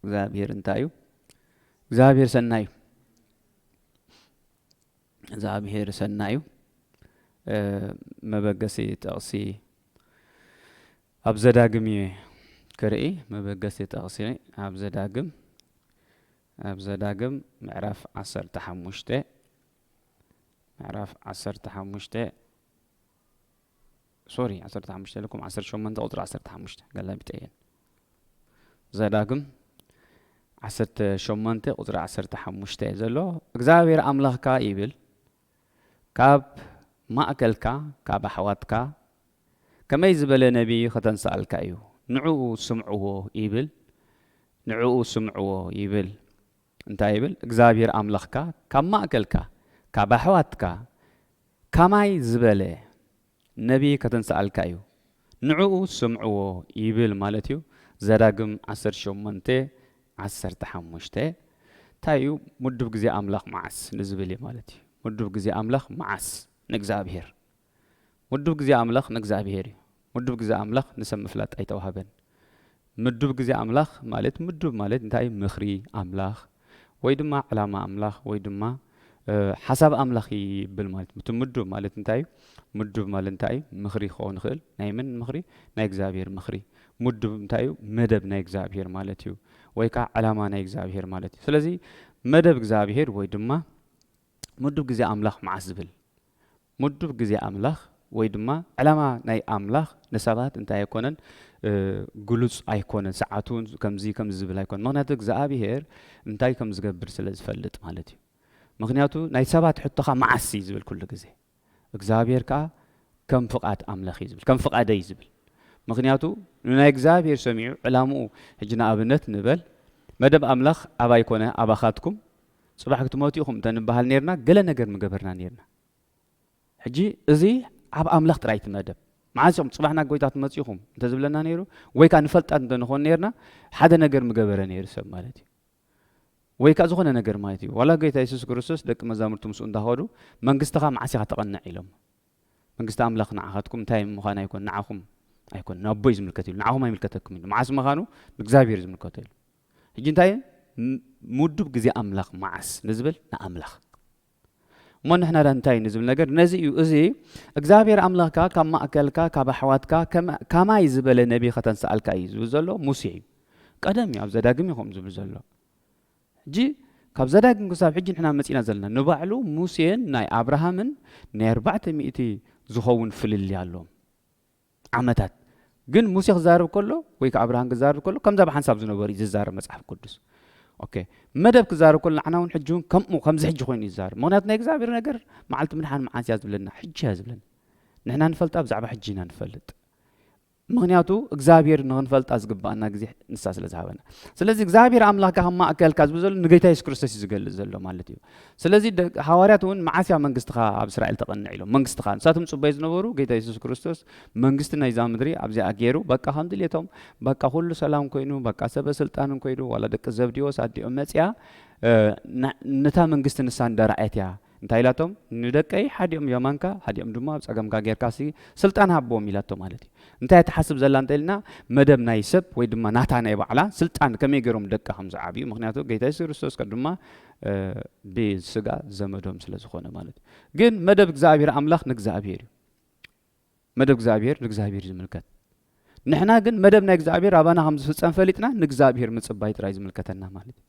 እግዚኣብሔር እንታይ እዩ እግዚኣብሔር ሰናይ እዩ እግዚኣብሔር ሰናይ እዩ መበገሲ ጠቕሲ ኣብ ዘዳግም እየ ክርኢ መበገሲ ጠቕሲ ኣብ ዘዳግም ኣብ ዘዳግም ምዕራፍ ዓሰርተ ሓሙሽተ ምዕራፍ ዓሰርተ ሓሙሽተ ሶሪ ዓሰርተ ሓሙሽተ ኢለኩም ዓሰርተ ሸሞንተ ቁፅሪ ዓሰርተ ሓሙሽተ ገላቢጠ እየን ዘዳግም ዓሰርተ ሸሞንተ ቁፅሪ ዓሰርተ ሓሙሽተ እዩ ዘሎ እግዚኣብሔር ኣምላኽካ ይብል ካብ ማእከልካ ካብ ኣሕዋትካ ከመይ ዝበለ ነቢይ ከተንስኣልካ እዩ ንዕኡ ስምዕዎ ይብል ንዕኡ ስምዕዎ ይብል እንታይ ይብል እግዚኣብሔር ኣምላኽካ ካብ ማእከልካ ካብ ኣሕዋትካ ከማይ ዝበለ ነብይ ከተንስኣልካ እዩ ንዕኡ ስምዕዎ ይብል ማለት እዩ ዘዳግም ዓሰርተ ሸሞንተ ዓሰርተ ሓሙሽተ ታይ እዩ ምዱብ ግዜ ኣምላኽ መዓስ ንዝብል እዩ ማለት እዩ ምዱብ ግዜ ኣምላኽ መዓስ ንእግዚኣብሄር ምዱብ ግዜ ኣምላኽ ንእግዚኣብሄር እዩ ምዱብ ግዜ ኣምላኽ ንሰብ ምፍላጥ ኣይተዋህበን። ምዱብ ግዜ ኣምላኽ ማለት ምዱብ ማለት እንታይ እዩ ምኽሪ ኣምላኽ ወይ ድማ ዕላማ ኣምላኽ ወይ ድማ ሓሳብ ኣምላኽ ይብል ማለት እቲ ምዱብ ማለት እንታይ እዩ ምዱብ ማለት እንታይ እዩ ምኽሪ ክኸውን ይኽእል ናይ ምን ምኽሪ ናይ እግዚኣብሔር ምኽሪ ምዱብ እንታይ እዩ መደብ ናይ እግዚኣብሔር ማለት እዩ ወይ ከዓ ዕላማ ናይ እግዚኣብሔር ማለት እዩ ስለዚ መደብ እግዚኣብሔር ወይ ድማ ምዱብ ግዜ ኣምላኽ መዓስ ዝብል ምዱብ ግዜ ኣምላኽ ወይ ድማ ዕላማ ናይ ኣምላኽ ንሰባት እንታይ ኣይኮነን ግሉጽ ኣይኮነን ሰዓቱ ውን ከምዚ ከምዚ ዝብል ኣይኮነን ምክንያቱ እግዝኣብሄር እንታይ ከም ዝገብር ስለ ዝፈልጥ ማለት እዩ ምክንያቱ ናይ ሰባት ሕቶ ከኣ መዓስ እዩ ዝብል ኩሉ ግዜ እግዝኣብሄር ከኣ ከም ፍቓድ ኣምላኽ እዩ ዝብል ከም ፍቓደይ ዝብል ምክንያቱ ንናይ እግዚኣብሄር ሰሚዑ ዕላምኡ ሕጂ ንኣብነት ንበል መደብ ኣምላኽ ኣባይ ኮነ ኣባኻትኩም ጽባሕ ክትመቱ ኢኹም እንተ ንበሃል ኔርና ገለ ነገር ምገበርና ኔርና ሕጂ እዚ ኣብ ኣምላኽ ጥራይ እቲ መደብ መዓስ ኢኹም ጽባሕ ናብ ጎይታ ትመጽኢኹም እንተ ዝብለና ነይሩ ወይ ከኣ ንፈልጣት እንተ ንኾን ነርና ሓደ ነገር ምገበረ ነይሩ ሰብ ማለት እዩ ወይ ከኣ ዝኾነ ነገር ማለት እዩ ዋላ ጎይታ የሱስ ክርስቶስ ደቂ መዛሙርቱ ምስኡ እንዳኸዱ መንግስትኻ መዓስ ኢኻ ተቐንዕ ኢሎም መንግስቲ ኣምላኽ ንዓኻትኩም እንታይ ምዃን ኣይኮን ንዓኹም ኣይኮን ንኣቦ እዩ ዝምልከት ኢሉ ንዓኹም ኣይምልከተኩም ኢሉ መዓስ ምዃኑ ንእግዚኣብሔር ዝምልከቶ ኢሉ ሕጂ እንታይ ምዱብ ግዜ ኣምላኽ መዓስ ንዝብል ንኣምላኽ እሞ ንሕና ዳኣ እንታይ ንዝብል ነገር ነዚ እዩ እዚ እግዚኣብሔር ኣምላኽካ ካብ ማእከልካ ካብ ኣሕዋትካ ካማይ ዝበለ ነቢ ከተንስኣልካ እዩ ዝብል ዘሎ ሙሴ እዩ ቀደም እዩ ኣብ ዘዳግም እዩ ከምኡ ዝብል ዘሎ ሕጂ ካብ ዘዳግም ክሳብ ሕጂ ንሕና መጺና ዘለና ንባዕሉ ሙሴን ናይ ኣብርሃምን ናይ ኣርባዕተ ሚእቲ ዝኸውን ፍልልይ ኣሎም ዓመታት ግን ሙሴ ክዛረብ ከሎ ወይ ከኣ ኣብርሃን ክዛረብ ከሎ ከምዛ ብሓንሳብ ዝነበሩ እዩ ዝዛረብ መጽሓፍ ቅዱስ ኦኬ መደብ ክዛረብ ከሎ ንዓና እውን ሕጂ እውን ከምኡ ከምዚ ሕጂ ኮይኑ እዩ ዝዛረብ ምክንያቱ ናይ እግዚኣብሔር ነገር መዓልቲ ምድሓን መዓስ እያ ዝብለና ሕጂ እያ ዝብለና ንሕና ንፈልጣ ብዛዕባ ሕጂ ኢና ንፈልጥ ምክንያቱ እግዚኣብሔር ንክንፈልጣ ዝግባኣና ግዜ ንሳ ስለ ዝሃበና ስለዚ እግዚኣብሔር ኣምላክ ካብ ማእከልካ ዝብል ዘሎ ንጌታ የሱስ ክርስቶስ እዩ ዝገልጽ ዘሎ ማለት እዩ ስለዚ ሃዋርያት እውን መዓስ እያ መንግስትኻ ኣብ እስራኤል ተቐንዕ ኢሎም መንግስትኻ ንሳቶም ዝጽበዩ ዝነበሩ ጌታ የሱስ ክርስቶስ መንግስቲ ናይዛ ምድሪ ኣብዚኣ ገይሩ በቃ ከም ድሌቶም በቃ ኩሉ ሰላም ኮይኑ በቃ ሰበ ስልጣንን ኮይኑ ዋላ ደቂ ዘብዲዎስ ኣዲኦም መጽያ ነታ መንግስቲ ንሳ እንደራኣየት እያ እንታይ ኢላቶም ንደቀይ ሓዲኦም የማንካ ሓዲኦም ድማ ኣብ ፀገምካ ጌርካ ሲ ስልጣን ሃቦም ኢላቶ ማለት እዩ እንታይ ትሓስብ ዘላ እንተ ኢልና መደብ ናይ ሰብ ወይ ድማ ናታ ናይ ባዕላ ስልጣን ከመይ ገይሮም ደቃ ከም ዝዓብዩ ምክንያቱ ጌታ የሱስ ክርስቶስ ድማ ብስጋ ዘመዶም ስለ ዝኾነ ማለት እዩ። ግን መደብ እግዚኣብሔር ኣምላኽ ንእግዚኣብሔር እዩ። መደብ እግዚኣብሔር ንእግዚኣብሔር ዝምልከት ንሕና ግን መደብ ናይ እግዚኣብሔር ኣባና ከም ዝፍፀም ፈሊጥና ንእግዚኣብሔር ምፅባይ ጥራይ ዝምልከተና ማለት እዩ።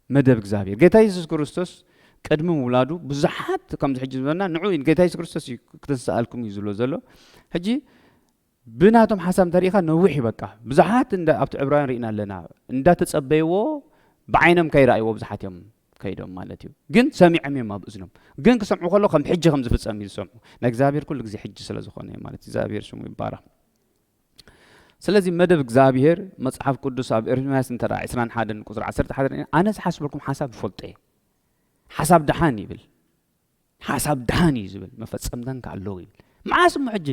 መደብ እግዚኣብሔር ጌታ የሱስ ክርስቶስ ቅድሚ ምውላዱ ብዙሓት ከምዚ ሕጂ ዝበና ንዑ ጌታ የሱስ ክርስቶስ እዩ ክትንስኣልኩም እዩ ዝብሎ ዘሎ ሕጂ ብናቶም ሓሳብ እንተሪኢኻ ነዊሕ እዩ በቃ ብዙሓት እንዳ ኣብቲ ዕብራውያን ርኢና ኣለና እንዳተጸበይዎ ብዓይኖም ከይረኣይዎ ብዙሓት እዮም ከይዶም ማለት እዩ ግን ሰሚዖም እዮም ኣብ እዝኖም ግን ክሰምዑ ከሎ ከም ሕጂ ከም ዝፍጸም እዩ ዝሰምዑ ናይ እግዚኣብሔር ኩሉ ግዜ ሕጂ ስለ ዝኾነ እዩ ማለት እግዚኣብሔር ሽሙ ይባረኽ ስለዚ መደብ እግዚኣብሔር መጽሓፍ ቅዱስ ኣብ ኤርምያስ እንተ 21 ቁፅሪ 11 ኣነ ዝሓስበልኩም ሓሳብ ይፈልጦ እየ ሓሳብ ደሓን ይብል ሓሳብ ድሓን እዩ ዝብል መፈጸምተን ከ ኣለዉ ይብል መዓስ እሞ ሕጂ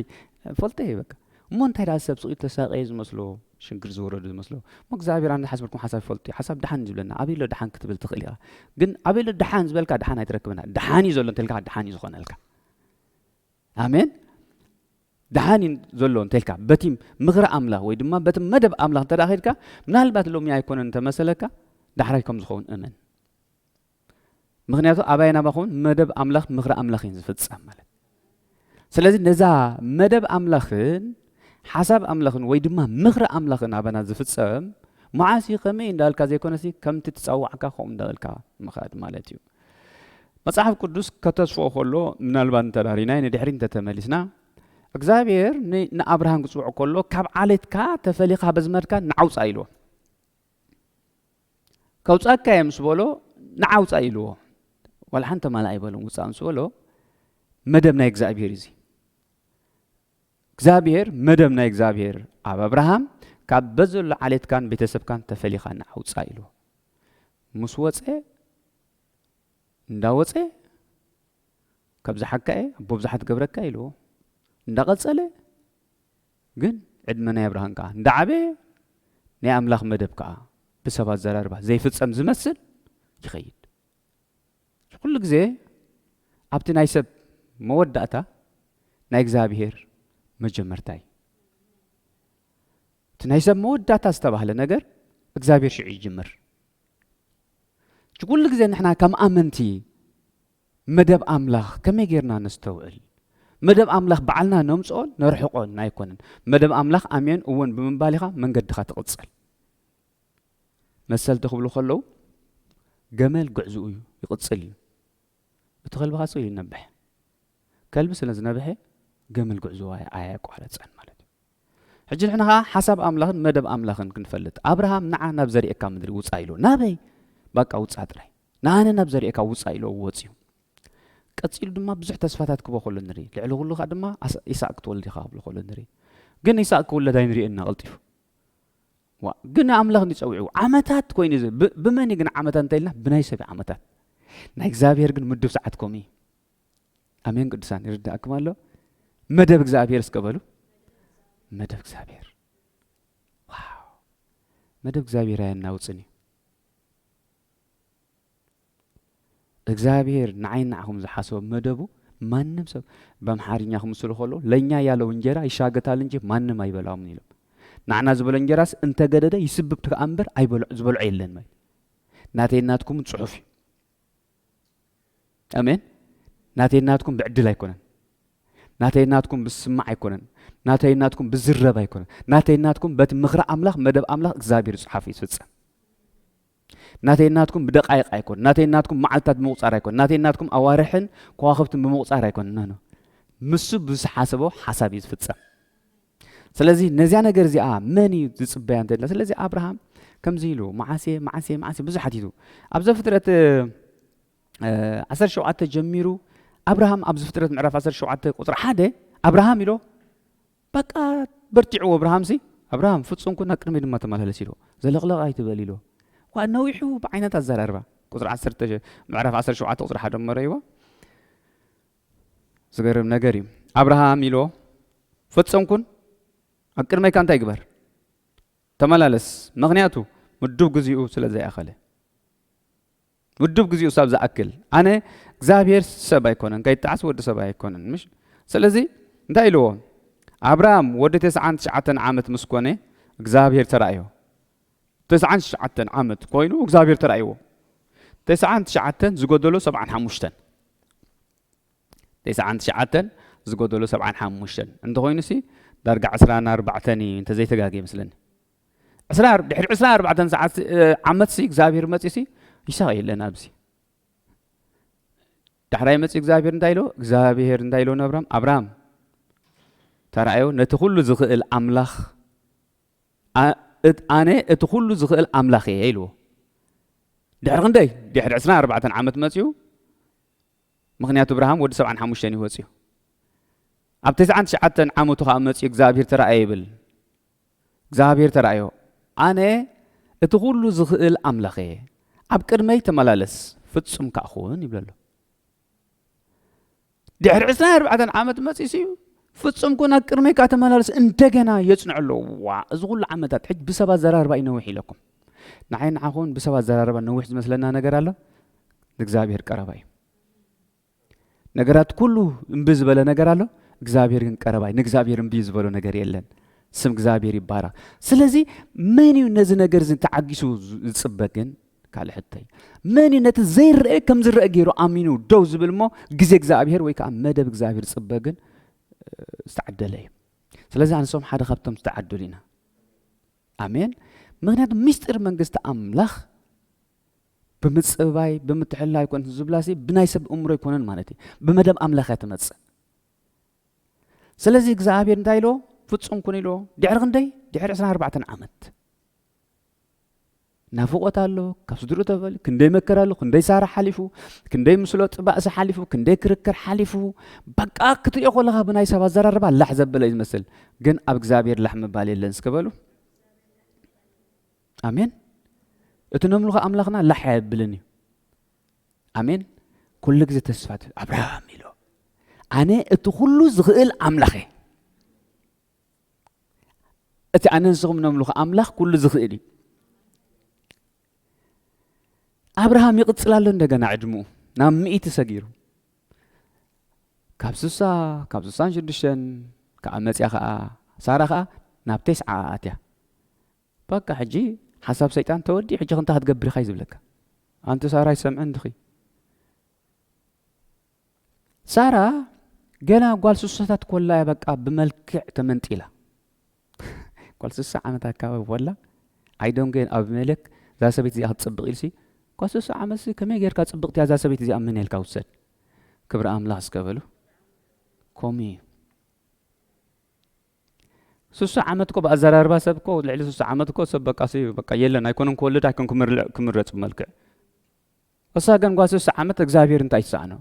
ፈልጠ እየ በቃ እሞ እንታይ ደኣ ሰብ ስቕ ተሳቀየ ዝመስሎ ሽግር ዝወረዱ ዝመስሎ እሞ እግዚኣብሔር ኣነ ዝሓስበልኩም ሓሳብ ይፈልጡ እዩ ሓሳብ ድሓን ዝብለና ኣበይ ኣሎ ድሓን ክትብል ትኽእል ኢኻ ግን ኣበይ ኣሎ ድሓን ዝበልካ ድሓን ኣይትረክብና ድሓን እዩ ዘሎ እንተልካ ድሓን እዩ ዝኾነልካ ኣሜን ድሓን እዩ ዘሎ እንተልካ በቲ ምኽሪ ኣምላኽ ወይ ድማ በቲ መደብ ኣምላኽ እንተ ኸድካ ምናልባት ሎሚ ኣይኮነን እንተመሰለካ ዳሕራይ ከም ዝኸውን እመን ምክንያቱ ኣባይን ኣባኹም መደብ ኣምላኽ ምክሪ ኣምላኽ እዩን ዝፍጸም ማለት ስለዚ ነዛ መደብ ኣምላኽን ሓሳብ ኣምላኽን ወይ ድማ ምክሪ ኣምላኽን ኣባና ዝፍጸም መዓስ እዩ ከመይ እንዳበልካ ዘይኮነሲ ከምቲ ትፀዋዕካ ከምኡ እንዳበልካ ምኻድ ማለት እዩ መጽሓፍ ቅዱስ ከተስፍኦ ከሎ ምናልባት እንተዳሪናይ ንድሕሪ እንተተመሊስና እግዚኣብሔር ንኣብርሃም ክፅውዕ ከሎ ካብ ዓሌትካ ተፈሊኻ በዝመድካ ንዓውፃ ኢልዎ ከውጻካ እየ ምስ በሎ ንዓ ውጻእ ኢልዎ ዋላ ሓንቲ ማል ኣይበሎም ውጻእ ምስ በሎ መደብ ናይ እግዚኣብሄር እዩ እዚ እግዚኣብሄር መደብ ናይ እግዚኣብሄር ኣብ ኣብርሃም ካብ በዘሎ ዓሌትካን ቤተሰብካን ተፈሊኻ ንዓውፃ ኢሉ ምስ ወፀ እንዳወፀ ካብ ዝሓካ እየ ኣቦ ብዙሓት ገብረካ ኢልዎ እንዳቐፀለ ግን ዕድመና የብርሃንካ እንዳ ዓበየ ናይ ኣምላኽ መደብ ከኣ ብሰብ ኣዘራርባ ዘይፍጸም ዝመስል ይኸይድ እዚ ኩሉ ግዜ ኣብቲ ናይ ሰብ መወዳእታ ናይ እግዝኣብሄር መጀመርታ እዩ እቲ ናይ ሰብ መወዳእታ ዝተባህለ ነገር እግዚኣብሄር ሽዑ ይጅምር እዚ ኩሉ ግዜ ንሕና ከም ኣመንቲ መደብ ኣምላኽ ከመይ ጌርና ነስተውዕል? መደብ ኣምላኽ ባዕልና ነምጽኦን ነርሕቆን ኣይኮነን። መደብ ኣምላኽ ኣሜን እወን ብምባል ኢኻ መንገድኻ ትቕጽል። መሰልቲ ክብሉ ከለዉ ገመል ግዕዝኡ እዩ ይቕጽል እዩ። እቲ ከልቢ ካጽኡ ይነብሕ። ከልቢ ስለ ዝነብሐ ገመል ግዕዝኡ ኣየቋረጸን ማለት እዩ። ሕጂ ንሕና ከኣ ሓሳብ ኣምላኽን መደብ ኣምላኽን ክንፈልጥ ኣብርሃም ንዓ ናብ ዘርእካ ምድሪ ውጻእ ኢልዎ ናበይ ባቃ ውጻእ ጥራይ ንኣነ ናብ ዘርእካ ውጻእ ኢልዎ ወጽዩ ቀጺሉ ድማ ብዙሕ ተስፋታት ክቦ ከሎ ንርኢ ልዕሊ ኩሉ ከኣ ድማ ኢሳቅ ክትወልድ ኢኻ ክብሎ ከሎ ንርኢ ግን ኢሳቅ ክውለድ ኣይንሪእን ኢና ቀልጢፉ ግን ኣምላኽ እንዲ ጸዊዑ ዓመታት ኮይኑ እዚ ብመን ግን ዓመታት እንታይ ኢልና ብናይ ሰብ ዓመታት ናይ እግዚኣብሔር ግን ምዱብ ሰዓት ከምኡ እዩ ኣሜን ቅዱሳን ይርዳእኩም ኣሎ መደብ እግዚኣብሔር እስከ በሉ መደብ እግዚኣብሔር ዋው መደብ እግዚኣብሔር ኣየናውፅን እዩ እግዚኣብሔር ንዓይ ንዓኹም ዝሓሰቦ መደቡ ማንም ሰብ በምሓርኛ ክምስሉ ከሎ ለእኛ ያለው እንጀራ ይሻገታል እንጂ ማንም ኣይበላውም ኢሎም ንዓና ዝበሎ እንጀራስ እንተገደደ ይስብብ ከኣ እምበር ዝበልዖ የለን ማለት ናተይ ናትኩም ፅሑፍ እዩ ኣሜን ናተይን ናትኩም ብዕድል ኣይኮነን ናተይን ናትኩም ብስማዕ ኣይኮነን ናተይን ናትኩም ብዝረብ ኣይኮነን ናተይን ናትኩም በቲ ምኽሪ ኣምላኽ መደብ ኣምላኽ እግዚኣብሔር ዝጽሓፍ እዩ ዝፍጸም ናተይን ናትኩም ብደቃይቕ ኣይኮን ናተይን ናትኩም መዓልትታት ብምቁፃር ኣይኮን ናተይን ናትኩም ኣዋርሕን ከዋኽብትን ብምቁፃር ኣይኮን ኖ ምስ ብዝሓሰቦ ሓሳብ እዩ ዝፍጸም ስለዚ ነዚያ ነገር እዚኣ መን እዩ ዝፅበያ እንተድላ ስለዚ ኣብርሃም ከምዚ ኢሉ መዓሴ መዓሴ መዓሴ ብዙሕ ሓቲቱ ኣብ ዘፍጥረት 17 ጀሚሩ ኣብርሃም ኣብ ዘፍጥረት ምዕራፍ 17 ቁፅሪ ሓደ ኣብርሃም ኢሎ በቃ በርቲዕዎ ኣብርሃም ሲ ኣብርሃም ፍፁም ኩን ቅድሚ ድማ ተመላለስ ኢሎ ዘለቕለቕ ኣይትበል ኢሎ ዋ ነዊሑ ብዓይነት ኣዘራርባ ቁፅሪ ምዕራፍ 17 ቁፅሪ ሓደ መረይዎ ዝገርም ነገር እዩ ኣብርሃም ኢሎ ፈጸም ኩን ኣብ ቅድመይካ እንታይ ግበር ተመላለስ ምክንያቱ ምዱብ ግዚኡ ስለ ዘይኣኸለ ምዱብ ግዚኡ ሳብ ዝኣክል ኣነ እግዚኣብሔር ሰብ ኣይኮነን ከይጣዓስ ወዲ ሰብ ኣይኮነን ምሽ ስለዚ እንታይ ኢልዎ ኣብርሃም ወዲ ተስዓን ትሽዓተን ዓመት ምስ ኮነ እግዚኣብሔር ተራእዮ ተስዓን ትሽዓተን ዓመት ኮይኑ እግዚኣብሔር ተራእይዎ ተስዓን ትሽዓተን ዝጎደሎ ሰብዓን ሓሙሽተን ተስዓን ትሽዓተን ዝጎደሎ ሰብዓን ሓሙሽተን እንተኾይኑ ሲ ዳርጋ ዕስራን ኣርባዕተን እዩ እንተዘይተጋጊ ይመስለኒ ዕስራ ድሕሪ ዕስራ ኣርባዕተን ሰዓት ዓመት ሲ እግዚኣብሔር መፂ ሲ ይሳቅ የለን ኣብዚ ዳሕራይ መፂ እግዚኣብሔር እንታይ ኢሎ እግዚኣብሔር እንታይ ኢሎ ንኣብራም ኣብራም ተራእዮ ነቲ ኩሉ ዝኽእል ኣምላኽ ኣነ እቲ ኩሉ ዝኽእል ኣምላኽ እየ ኢልዎ። ድሕሪ ክንደይ? ድሕሪ ዕስራን ኣርባዕተን ዓመት መጺኡ፣ ምኽንያቱ እብራሃም ወዲ ሰብዓን ሓሙሽተን እዩ ወጺኡ። ኣብ ተስዓን ትሽዓተን ዓመቱ ከኣ መጺኡ እግዚኣብሔር ተራእየ ይብል። እግዚኣብሔር ተራእዮ፣ ኣነ እቲ ኩሉ ዝኽእል ኣምላኽ እየ፣ ኣብ ቅድመይ ተመላለስ፣ ፍጹም ከኣ ኹን ይብለሎ። ድሕሪ ዕስራን ኣርባዕተን ዓመት መፂሱ እዩ ፍፁም ኩን ኣብ ቅድሜካ ተመላለስ እንደገና የፅንዑ ኣለዎ ዋ እዚ ኩሉ ዓመታት ሕጂ ብሰብ ኣዘራርባ እዩ ነዊሕ ኢለኩም ንዓይ ንዓኹን ብሰብ ኣዘራርባ ነዊሕ ዝመስለና ነገር ኣሎ ንእግዚኣብሔር ቀረባ እዩ ነገራት ኩሉ እምቢ ዝበለ ነገር ኣሎ እግዚኣብሔር ግን ቀረባ እዩ ንእግዚኣብሔር እምቢ ዝበሎ ነገር የለን ስም እግዚኣብሔር ይባረክ ስለዚ መን እዩ ነዚ ነገር እዚ ተዓጊሱ ዝፅበ ግን ካልእ ሕቶይ መን እዩ ነቲ ዘይረአ ከም ዝረአ ገይሩ ኣሚኑ ደው ዝብል እሞ ግዜ እግዚኣብሄር ወይ ከዓ መደብ እግዚኣብሄር ዝፅበ ግን ዝተዓደለ እዩ ስለዚ ኣንሶም ሓደ ካብቶም ዝተዓደሉ ኢና ኣሜን ምክንያቱ ምስጢር መንግስቲ ኣምላኽ ብምፅባይ ብምትሕላ ይኮን ዝብላ ሲ ብናይ ሰብ እምሮ ኣይኮነን ማለት እዩ ብመደብ ኣምላኽ እያ ትመፅእ ስለዚ እግዚኣብሄር እንታይ ኢሎ ፍፁም ኩን ኢሎ ድሕሪ ክንደይ ድሕሪ 24 ዓመት ናፍቆት ኣሎ ካብ ስድሩ ተፈል ክንደይ መከራ ኣሎ ክንደይ ሳራ ሓሊፉ ክንደይ ምስሎ ጥባእሲ ሓሊፉ ክንደይ ክርክር ሓሊፉ በቃ ክትሪኦ ከለካ ብናይ ሰብ ኣዘራርባ ላሕ ዘበለ እዩ ዝመስል ግን ኣብ እግዚኣብሔር ላሕ ምባል የለን እስከ በሉ ኣሜን እቲ ነምልኾ ኣምላኽና ላሕ ኣየብልን እዩ ኣሜን ኩሉ ግዜ ተስፋ ኣብርሃም ኢሎ ኣነ እቲ ኩሉ ዝኽእል ኣምላኽ እየ እቲ ኣነ ንስኹም ነምልኹ ኣምላኽ ኩሉ ዝኽእል እዩ ኣብርሃም ይቕፅል ኣሎ እንደገና ዕድምኡ ናብ ምእቲ ሰጊሩ ካብ ስሳ ካብ ስሳን ሽዱሽተን ከዓ መፅያ ከዓ ሳራ ከዓ ናብ ቴስዓ ኣትያ በቃ ሕጂ ሓሳብ ሰይጣን ተወዲ ሕጂ ክንታ ክትገብር ኢኻ እዩ ዝብለካ ኣንቲ ሳራ ይሰምዐን ድኺ ሳራ ገና ጓል ስሳታት ኮላ እያ በቃ ብመልክዕ ተመንጢላ ጓል ስሳ ዓመት ኣካባቢ ኮላ ዓይዶም ግን ኣብ መለክ እዛ ሰበይቲ እዚኣ ክትፅብቕ ኢልሲ ጓል ስሳ ዓመትሲ ከመይ ጌርካ ፅብቕቲ እዛ ሰበይቲ እዚኣ ምን ኢልካ ውሰድ ክብሪ ኣምላኽ እስከ በሉ ከምኡ እዩ ስሱ ዓመት እኮ ብኣዘራርባ ሰብ እኮ ልዕሊ ስሱ ዓመት እኮ ሰብ በቃ በቃ የለን ኣይኮነን ክወልድ ኣይኮን ክምረፅ ብመልክዕ እሳ ግን ጓል ስሳ ዓመት እግዚኣብሔር እንታይ ይሰኣኖ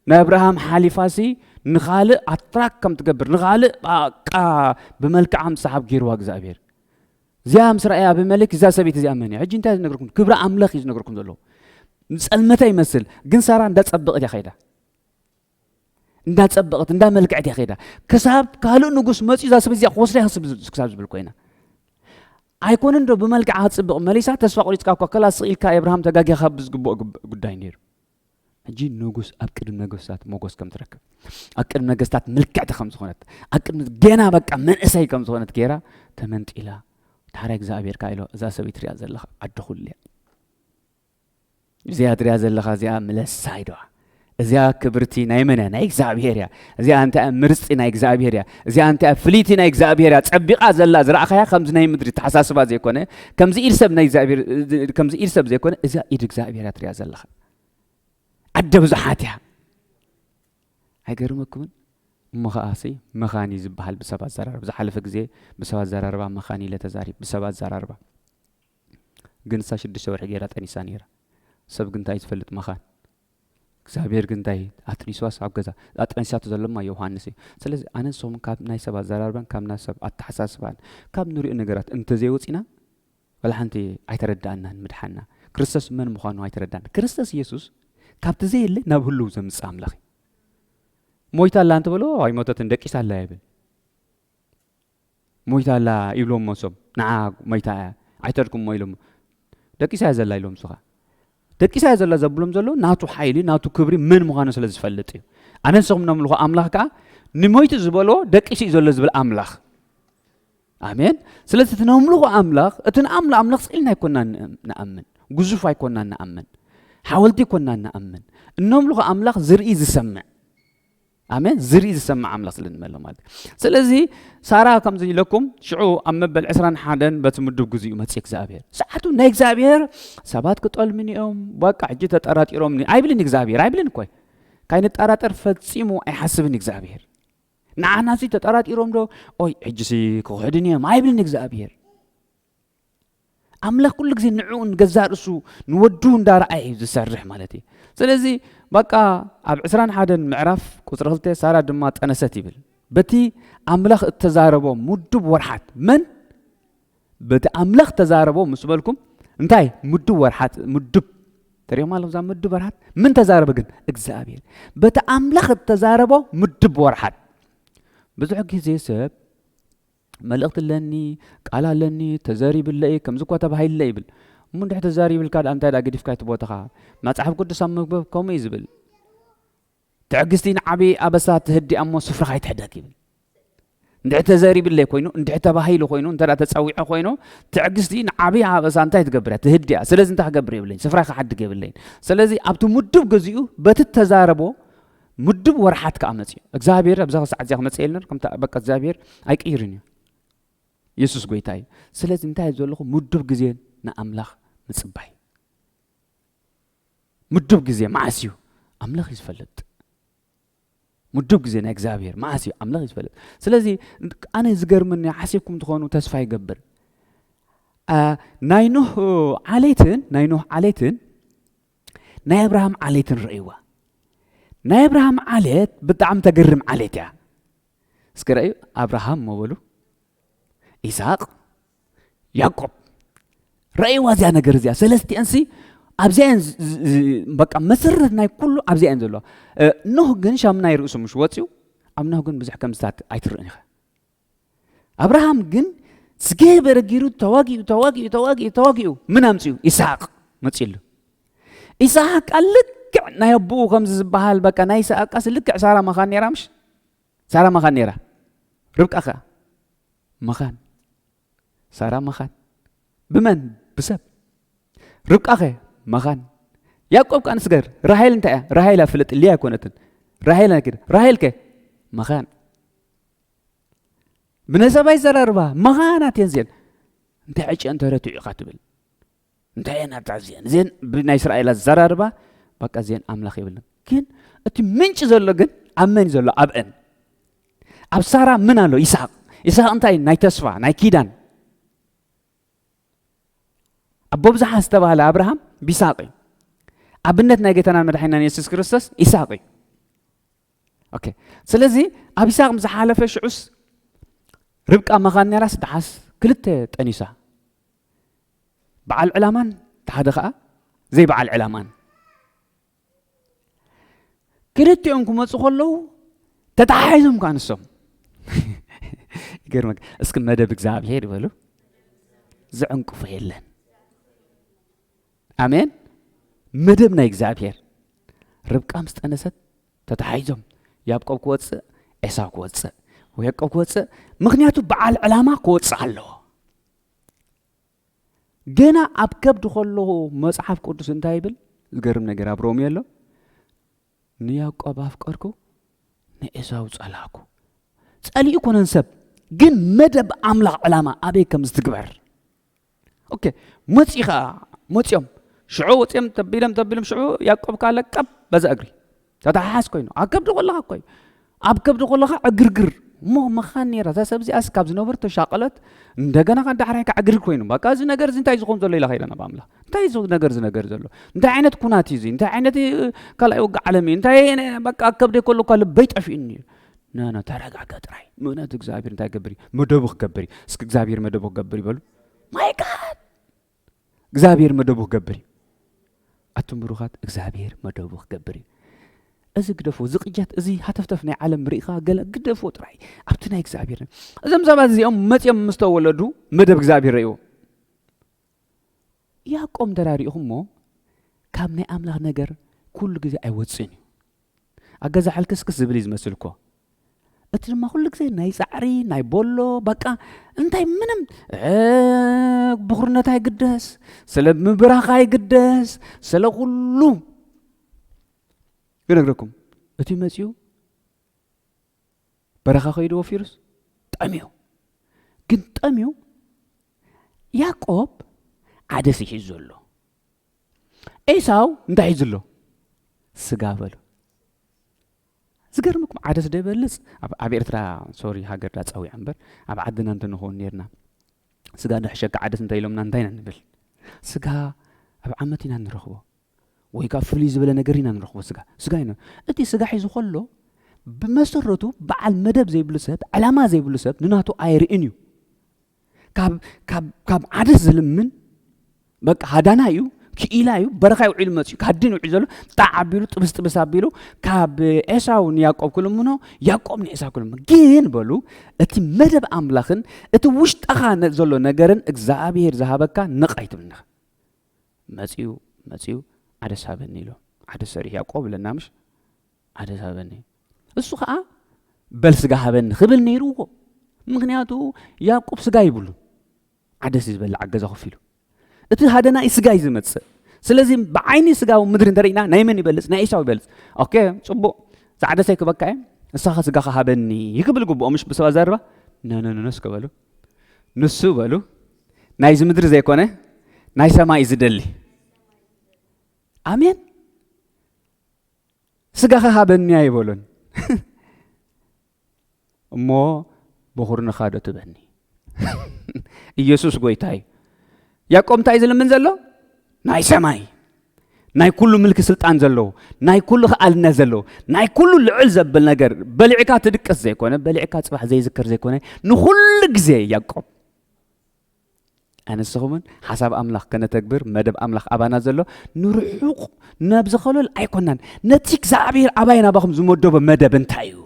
ንኣብርሃም ሓሊፋሲ ንኻልእ ኣትራክ ከም ትገብር ንኻልእ ቃ ብመልክዓ ምሰሓብ ገይርዋ እግዚኣብሔር እዚኣ ምስ ረኣየ ኣቢመሌክ እዛ ሰበይቲ እዚኣ መን እያ ሕጂ እንታይ ዝነገርኩም ክብሪ ኣምላኽ እዩ ዝነገርኩም ዘለዎ ንፀልመተ ይመስል ግን ሳራ እንዳፀበቕት እያ ከይዳ እንዳፀበቐት እንዳመልክዐት እያ ከይዳ ክሳብ ካልእ ንጉስ መፅኡ እዛ ሰብ እዚኣ ክወስዳ ክሳብ ዝብል ኮይና ኣይኮነን ዶ ብመልክዓ ክትፅብቕ መሊሳ ተስፋ ቆሪፅካ እኳ ከላ ስቕ ኢልካ ኤብርሃም ተጋጊኻ ብዝግብኦ ጉዳይ ነይሩ ሕጂ ንጉስ ኣብ ቅድሚ ነገስታት ሞጎስ ከም ትረክብ ኣብ ቅድሚ ነገስታት ምልክዕቲ ከም ዝኾነት ኣብ ቅድሚ ገና በቃ መንእሰይ ከም ዝኾነት ገይራ ተመንጢላ ታሕራይ እግዚኣብሔር ካ ኢሎ እዛ ሰበይት ሪኣ ዘለኻ ዓዲ ኩሉ እያ እዚኣ ትሪኣ ዘለኻ እዚኣ ምለሳ ኢዶዋ እዚኣ ክብርቲ ናይ መን እያ ናይ እግዚኣብሄር እያ እዚኣ እንታይ እያ ምርፅቲ ናይ እግዚኣብሄር እያ እዚኣ እንታይ እያ ፍልይቲ ናይ እግዚኣብሄር እያ ፀቢቓ ዘላ ዝረእኻያ ከምዚ ናይ ምድሪ ተሓሳስባ ዘይኮነ ከምዚ ኢድ ሰብ ናይ እግዚኣብሄር ከምዚ ኢድ ሰብ ዘይኮነ እዚኣ ኢድ እግዚኣብሄር እያ ትሪኣ ዘለኻ ኣደ ብዙሓት እያ ኣይገርመኩምን እሞ ከዓ ሲ መኻን እዩ ዝበሃል ብሰብ ኣዘራርባ ዝሓለፈ ግዜ ብሰብ ኣዘራርባ መኻን ኢለ ተዛሪብ ብሰብ ኣዘራርባ ግን ንሳ ሽዱሽተ ወርሒ ጌራ ጠኒሳ ኔራ ሰብ ግን ታይ ዝፈልጥ መኻን እግዚኣብሔር ግን ታይ ኣጥኒስዋስ ኣብ ገዛ ኣጥኒሳቶ ዘለማ ዮውሃንስ እዩ ስለዚ ኣነ ንሶም ካብ ናይ ሰብ ኣዘራርባን ካብ ናይ ሰብ ኣተሓሳስባን ካብ ንሪኦ ነገራት እንተዘይወፂና ወላ ሓንቲ ኣይተረዳእናን ምድሓና ክርስቶስ መን ምዃኑ ኣይተረዳን ክርስቶስ ኢየሱስ ካብቲ ዘየለ ናብ ህልው ዘምፅእ ኣምላኽ ሞይታ ኣላ እንተበሎ ኣይሞተትን ደቂሳ ኣላ ይብል ሞይታ ኣላ ይብሎሞ እሶም ንዓ ሞይታ እያ ኣይተርኩሞ ኢሎሞ ደቂሳ እያ ዘላ ኢሎም እሱ ከኣ ደቂሳ እያ ዘላ ዘብሎም ዘሎ ናቱ ሓይሊ ናቱ ክብሪ መን ምዃኑ ስለ ዝፈልጥ እዩ ኣነ ንስኹም ነምልኾ ኣምላኽ ከኣ ንሞይቲ ዝበሎ ደቂሱ እዩ ዘሎ ዝብል ኣምላኽ ኣሜን ስለዚ እቲ ነምልኾ ኣምላኽ እቲ ንኣምሎ ኣምላኽ ስኢልና ኣይኮና ንኣምን ግዙፍ ኣይኮና ንኣምን ሓወልቲ ኣይኮና ንኣምን እነምልኾ ኣምላኽ ዝርኢ ዝሰምዕ ኣሜን ዝርኢ ዝሰምዕ ኣምላኽ ስለ ንመሎ ማለት እዩ ስለዚ ሳራ ከም ዝኢለኩም ሽዑ ኣብ መበል ዕስራን ሓደን በቲ ምዱብ ግዜኡ መፅእ እግዚኣብሔር ሰዓቱ ናይ እግዚኣብሔር ሰባት ክጠልምኒ እዮም በቃ ሕጂ ተጠራጢሮምኒ ኣይብልን እግዚኣብሔር ኣይብልን እኮይ ካይንጠራጠር ፈፂሙ ኣይሓስብን እግዚኣብሔር ንዓና ሲ ተጠራጢሮም ዶ ኦይ ሕጂሲ ክኽሕድን እዮም ኣይብልን እግዚኣብሔር ኣምላኽ ኩሉ ግዜ ንዕኡ ንገዛእ ርእሱ ንወዱ እንዳረኣየ እዩ ዝሰርሕ ማለት እዩ ስለዚ በቃ ኣብ ዕስራን ሓደን ምዕራፍ ቁፅሪ ክልተ ሳራ ድማ ጠነሰት ይብል በቲ ኣምላኽ እተዛረቦ ምዱብ ወርሓት መን በቲ ኣምላኽ ተዛረቦ ምስ በልኩም እንታይ ምዱብ ወርሓት ምዱብ ተሪኦም ኣለኹም እዛ ምዱብ ወርሓት ምን ተዛረበ ግን እግዚኣብሔር በቲ ኣምላኽ እተዛረቦ ምዱብ ወርሓት ብዙሕ ግዜ ሰብ መልእኽቲ ኣለኒ፣ ቃል ኣለኒ፣ ተዘሪብለ እየ፣ ከምዚ እኳ ተባሂሉለ ይብል። እሞ እንድሕር ተዛሪብልካ ድኣ እንታይ ድኣ ገዲፍካ እቲ ቦታኻ? መጽሓፍ ቅዱስ ኣብ ምንባብ ከምኡ እዩ ዝብል። ትዕግስቲ ንዓብዪ ኣበሳ ትህዲ ኣሞ ስፍራኻ ኣይትሕደግ ይብል። እንድሕር ተዘሪብለይ ኮይኑ እንድሕር ተባሂሉ ኮይኑ እንተ ተፀዊዐ ኮይኑ ትዕግስቲ ንዓብዪ ኣበሳ እንታይ ትገብር እያ ትህዲ እያ ስለዚ እንታይ ክገብር የብለይን ስፍራይ ክሓድግ የብለይን ስለዚ ኣብቲ ምዱብ ገዚኡ በቲ ተዛረቦ ምዱብ ወርሓት ከኣ መጽዩ እግዚኣብሔር ኣብዛ ክሳዕ እዚኣ ክመጽእ የለን ከምታ በቃ እግዚኣብሔር ኣይቅይርን እዩ የሱስ ጎይታ እዩ ስለዚ እንታይ ዘለኹ ምዱብ ግዜ ንኣምላኽ ምጽባይ ምዱብ ግዜ መዓስ እዩ ኣምላኽ እዩ ዝፈልጥ ምዱብ ግዜ ናይ እግዚኣብሔር መዓስ እዩ ኣምላኽ እዩ ዝፈልጥ ስለዚ ኣነ ዝገርመኒ ሓሲብኩም ትኾኑ ተስፋ ይገብር ናይ ኖህ ዓሌትን ናይ ኖህ ዓሌትን ናይ ኣብርሃም ዓሌት ንርእይዋ ናይ ኣብርሃም ዓሌት ብጣዕሚ ተገርም ዓሌት እያ እስኪ ረእዩ ኣብርሃም እሞ በሉ ኢሳቅ ያዕቆብ ረእይዋ እዚኣ ነገር እዚኣ ሰለስቲአንሲ ኣብዚኣ እየን ዝ- ዝ- ዝ- በቃ መሰረት ናይ ኩሉ ኣብዚኣ እየን ዘለዋ እ፣ ኖህ ግን ሻምናይ ርእሱ ምሽ ወፅዩ ኣብ ኖህ ግን ብዙሕ ከምዝታት ኣይትርእን ኢኻ ኣብርሃም ግን ዝገበረ ገይሩ ተዋጊኡ ተዋጊኡ ተዋጊኡ ተዋጊኡ ምን ኣምፅኡ ኢስሓቅ መፅሉ ኢስሓቅ ቃል ልክዕ ናይ ኣቦኡ ከምዚ ዝበሃል በቃ ናይ ኢስሓቅ ቃስ ልክዕ ሳራ መኻን ነራ ምሽ ሳራ መኻን ነራ ርብቃ ከዓ መኻን ሳራ መኻን ብመን ብሰብ ርብቃ ኸ መኻን ያዕቆብ ከዓ ንስገር ራሄል እንታይ እያ ራሄል ኣፍልጥ ልያ ኣይኮነትን ራሄል ራሄል ከ መኻን ብነሰባይ ዘረርባ መኻናት እየን እዚአን እንታይ ዕጭአን ተረትዑ ኢኻ ትብል እንታይ እየን ኣብታ እዚአን እዚአን ብናይ እስራኤል ኣዘራርባ በቃ እዚአን ኣምላኽ የብለን ግን እቲ ምንጭ ዘሎ ግን ኣብ መን ዘሎ ኣብአን ኣብ ሳራ ምን ኣሎ ይስሐቅ ይስሐቅ እንታይ ናይ ተስፋ ናይ ኪዳን ኣቦ ብዝሓ ዝተባህለ ኣብርሃም ቢሳቅ እዩ ኣብነት ናይ ጌታናን መድሓናን የሱስ ክርስቶስ ይስሐቅ እዩ ኦኬ ስለዚ ኣብ ይስሐቅ ምስ ሓለፈ ሽዑስ ርብቃ መኻን ነራስ ደሓስ ክልተ ጠኒሳ በዓል ዕላማን እቲ ሓደ ከዓ ዘይበዓል ዕላማን ክልቲኦም ክመፁ ከለዉ ተተሓሒዞም ከዓ ንሶም ይገርመ እስኪ መደብ እግዚኣብሄር ይበሉ ዝዕንቅፎ የለን ኣሜን መደብ ናይ እግዚኣብሔር ርብቃ ምስ ጠነሰት ተተሓሒዞም ያብቆብ ክወፅእ ኤሳው ክወፅእ ያዕቆብ ክወፅእ ምክንያቱ በዓል ዕላማ ክወፅእ ኣለዎ ገና ኣብ ከብዲ ከለዎ መፅሓፍ ቅዱስ እንታይ ይብል ዝገርም ነገር ኣብ ሮሜ ኣሎ ንያዕቆብ ኣፍቀርኩ ንኤሳው ፀላኩ ፀሊኡ ኮነን ሰብ ግን መደብ ኣምላኽ ዕላማ ኣበይ ከም ዝትግበር ኦኬ መፅኡ ከዓ መፅኦም ሽዑ ወፅኦም ተቢሎም ተቢሎም ሽዑ ያቆብ ከዓ ለቀብ በዛ እግሪ ተተሓሓዝ ኮይኑ ኣብ ከብዲ ኮለካ እኮ እዩ ኣብ ከብዲ ኮለካ ዕግርግር እሞ መኻን ነራ እዛ ሰብ እዚኣስ ካብ ዝነበሩ ተሻቀለት እንደገና ካብ ዳሕራይ ከዓ ዕግርግር ኮይኑ በቃ እዚ ነገር እዚ እንታይ ዝኸውን ዘሎ ኢላ ከይዳ ናብ ኣምላኽ እንታይ እዚ ነገር እዚ ነገር ዘሎ እንታይ ዓይነት ኩናት እዩ እዚ እንታይ ዓይነት ካልኣይ ወግእ ዓለም እዩ እንታይ በቃ ኣብ ከብደይ ከለኳ ልበይ ጠፊኡኒ እዩ ናና ተረጋጋ ጥራይ ምክንያቱ እግዚኣብሔር እንታይ ክገብር እዩ መደቡ ክገብር እዩ እስኪ እግዚኣብሔር መደቡ ክገብር ይበሉ ማይ ጋድ እግዚኣብሔር መደቡ ክገብር እዩ ኣቱም ብሩኻት እግዚኣብሔር መደቡ ክገብር እዩ እዚ ግደፎ እዚ ቅጀት እዚ ሃተፍተፍ ናይ ዓለም ርኢኻ ገለ ግደፎ ጥራይ ኣብቲ ናይ እግዚኣብሔር እዞም ሰባት እዚኦም መፅኦም ምስ ተወለዱ መደብ እግዚኣብሔር ረእዎ ያቆም እንተ ሪእኹሞ ካብ ናይ ኣምላኽ ነገር ኩሉ ግዜ ኣይወጽእን እዩ ኣብ ገዛ ሕልክስክስ ዝብል እዩ ዝመስል እኮ እቲ ድማ ኩሉ ግዜ ናይ ፃዕሪ ናይ ቦሎ በቃ እንታይ ምንም ብኩርነት ኣይግደስ ስለ ምብራኽ ኣይግደስ ስለ ኩሉ ክነግረኩም እቲ መፅኡ በረኻ ከይዱ ወፊሩስ ጠምዩ ግን ጠምዩ ያቆብ ዓደስ ይሒዝ ዘሎ ኤሳው እንታይ ሒዙ ኣሎ ስጋ በሉ ዝገርምኩም ዓደስ ዶ ይበልፅ ኣብ ኤርትራ ሶሪ ሃገር ዳ ፀዊዕ እምበር ኣብ ዓድና እንተንኸውን ነርና ስጋ ዶ ሕሸካ ዓደስ እንታይ ኢሎምና እንታይ ኢና ንብል ስጋ ኣብ ዓመት ኢና ንረኽቦ ወይ ከኣ ፍልይ ዝበለ ነገር ኢና ንረኽቦ ስጋ ስጋ ኢና እቲ ስጋ ሒዙ ከሎ ብመሰረቱ በዓል መደብ ዘይብሉ ሰብ ዕላማ ዘይብሉ ሰብ ንናቱ ኣይርእን እዩ ካብ ካብ ካብ ዓደስ ዝልምን በቃ ሃዳና እዩ ክኢላ እዩ በረኻ ውዒሉ መፅኡ ካድን ውዒሉ ዘሎ ጣዕ ኣቢሉ ጥብስ ጥብስ ኣቢሉ ካብ ኤሳው ንያቆብ ክልምኖ ያቆብ ንኤሳው ክልምኖ ግን በሉ እቲ መደብ ኣምላኽን እቲ ውሽጠኻ ዘሎ ነገርን እግዚኣብሄር ዝሃበካ ነቕ ኣይትብልንኻ መጺኡ መጺኡ ዓደስ ሃበኒ ኢሎም ዓደስ ሰሪሑ ያቆብ እለና ምሽ ዓደስ ሃበኒ እሱ ከኣ በል ስጋ ሃበኒ ክብል ነይርዎ ምክንያቱ ያቁብ ስጋ ይብሉ ዓደስ ዝበልዕ ኣገዛ ኮፍ ኢሉ እቲ ሃደና እዩ ስጋ እዩ ዝመፅእ ስለዚ ብዓይኒ ስጋዊ ምድሪ እንተርኢና ናይ መን ይበልፅ ናይ ኤሳው ይበልፅ ኦኬ ፅቡቅ ፃዕደሰ ይክበካ እየ ንሳኻ ስጋኻ ሃበኒ ይክብል ግብኦ ምሽ ብሰብ ኣዘርባ ነነነነስ ከበሉ ንሱ በሉ ናይዚ ምድሪ ዘይኮነ ናይ ሰማይ ዝደሊ ኣሜን ስጋኻ ሃበኒ ኣይበሎን እሞ ብኹርንኻ ዶ ትበኒ ኢየሱስ ጎይታ እዩ ያዕቆብ እንታይ እዩ ዝልምን ዘሎ ናይ ሰማይ ናይ ኩሉ ምልኪ ስልጣን ዘለዎ ናይ ኩሉ ክኣልነት ዘለዎ ናይ ኩሉ ልዕል ዘብል ነገር በሊዕካ ትድቅስ ዘይኮነ በሊዕካ ፅባሕ ዘይዝከር ዘይኮነ ንኩሉ ግዜ ያዕቆብ ኣነስ ኹምን ሓሳብ ኣምላኽ ከነተግብር መደብ ኣምላኽ ኣባና ዘሎ ንርሑቕ ናብ ዝኸለል ኣይኮናን ነቲ እግዚኣብሔር ኣባይ ናባኹም ዝመደቦ መደብ እንታይ እዩ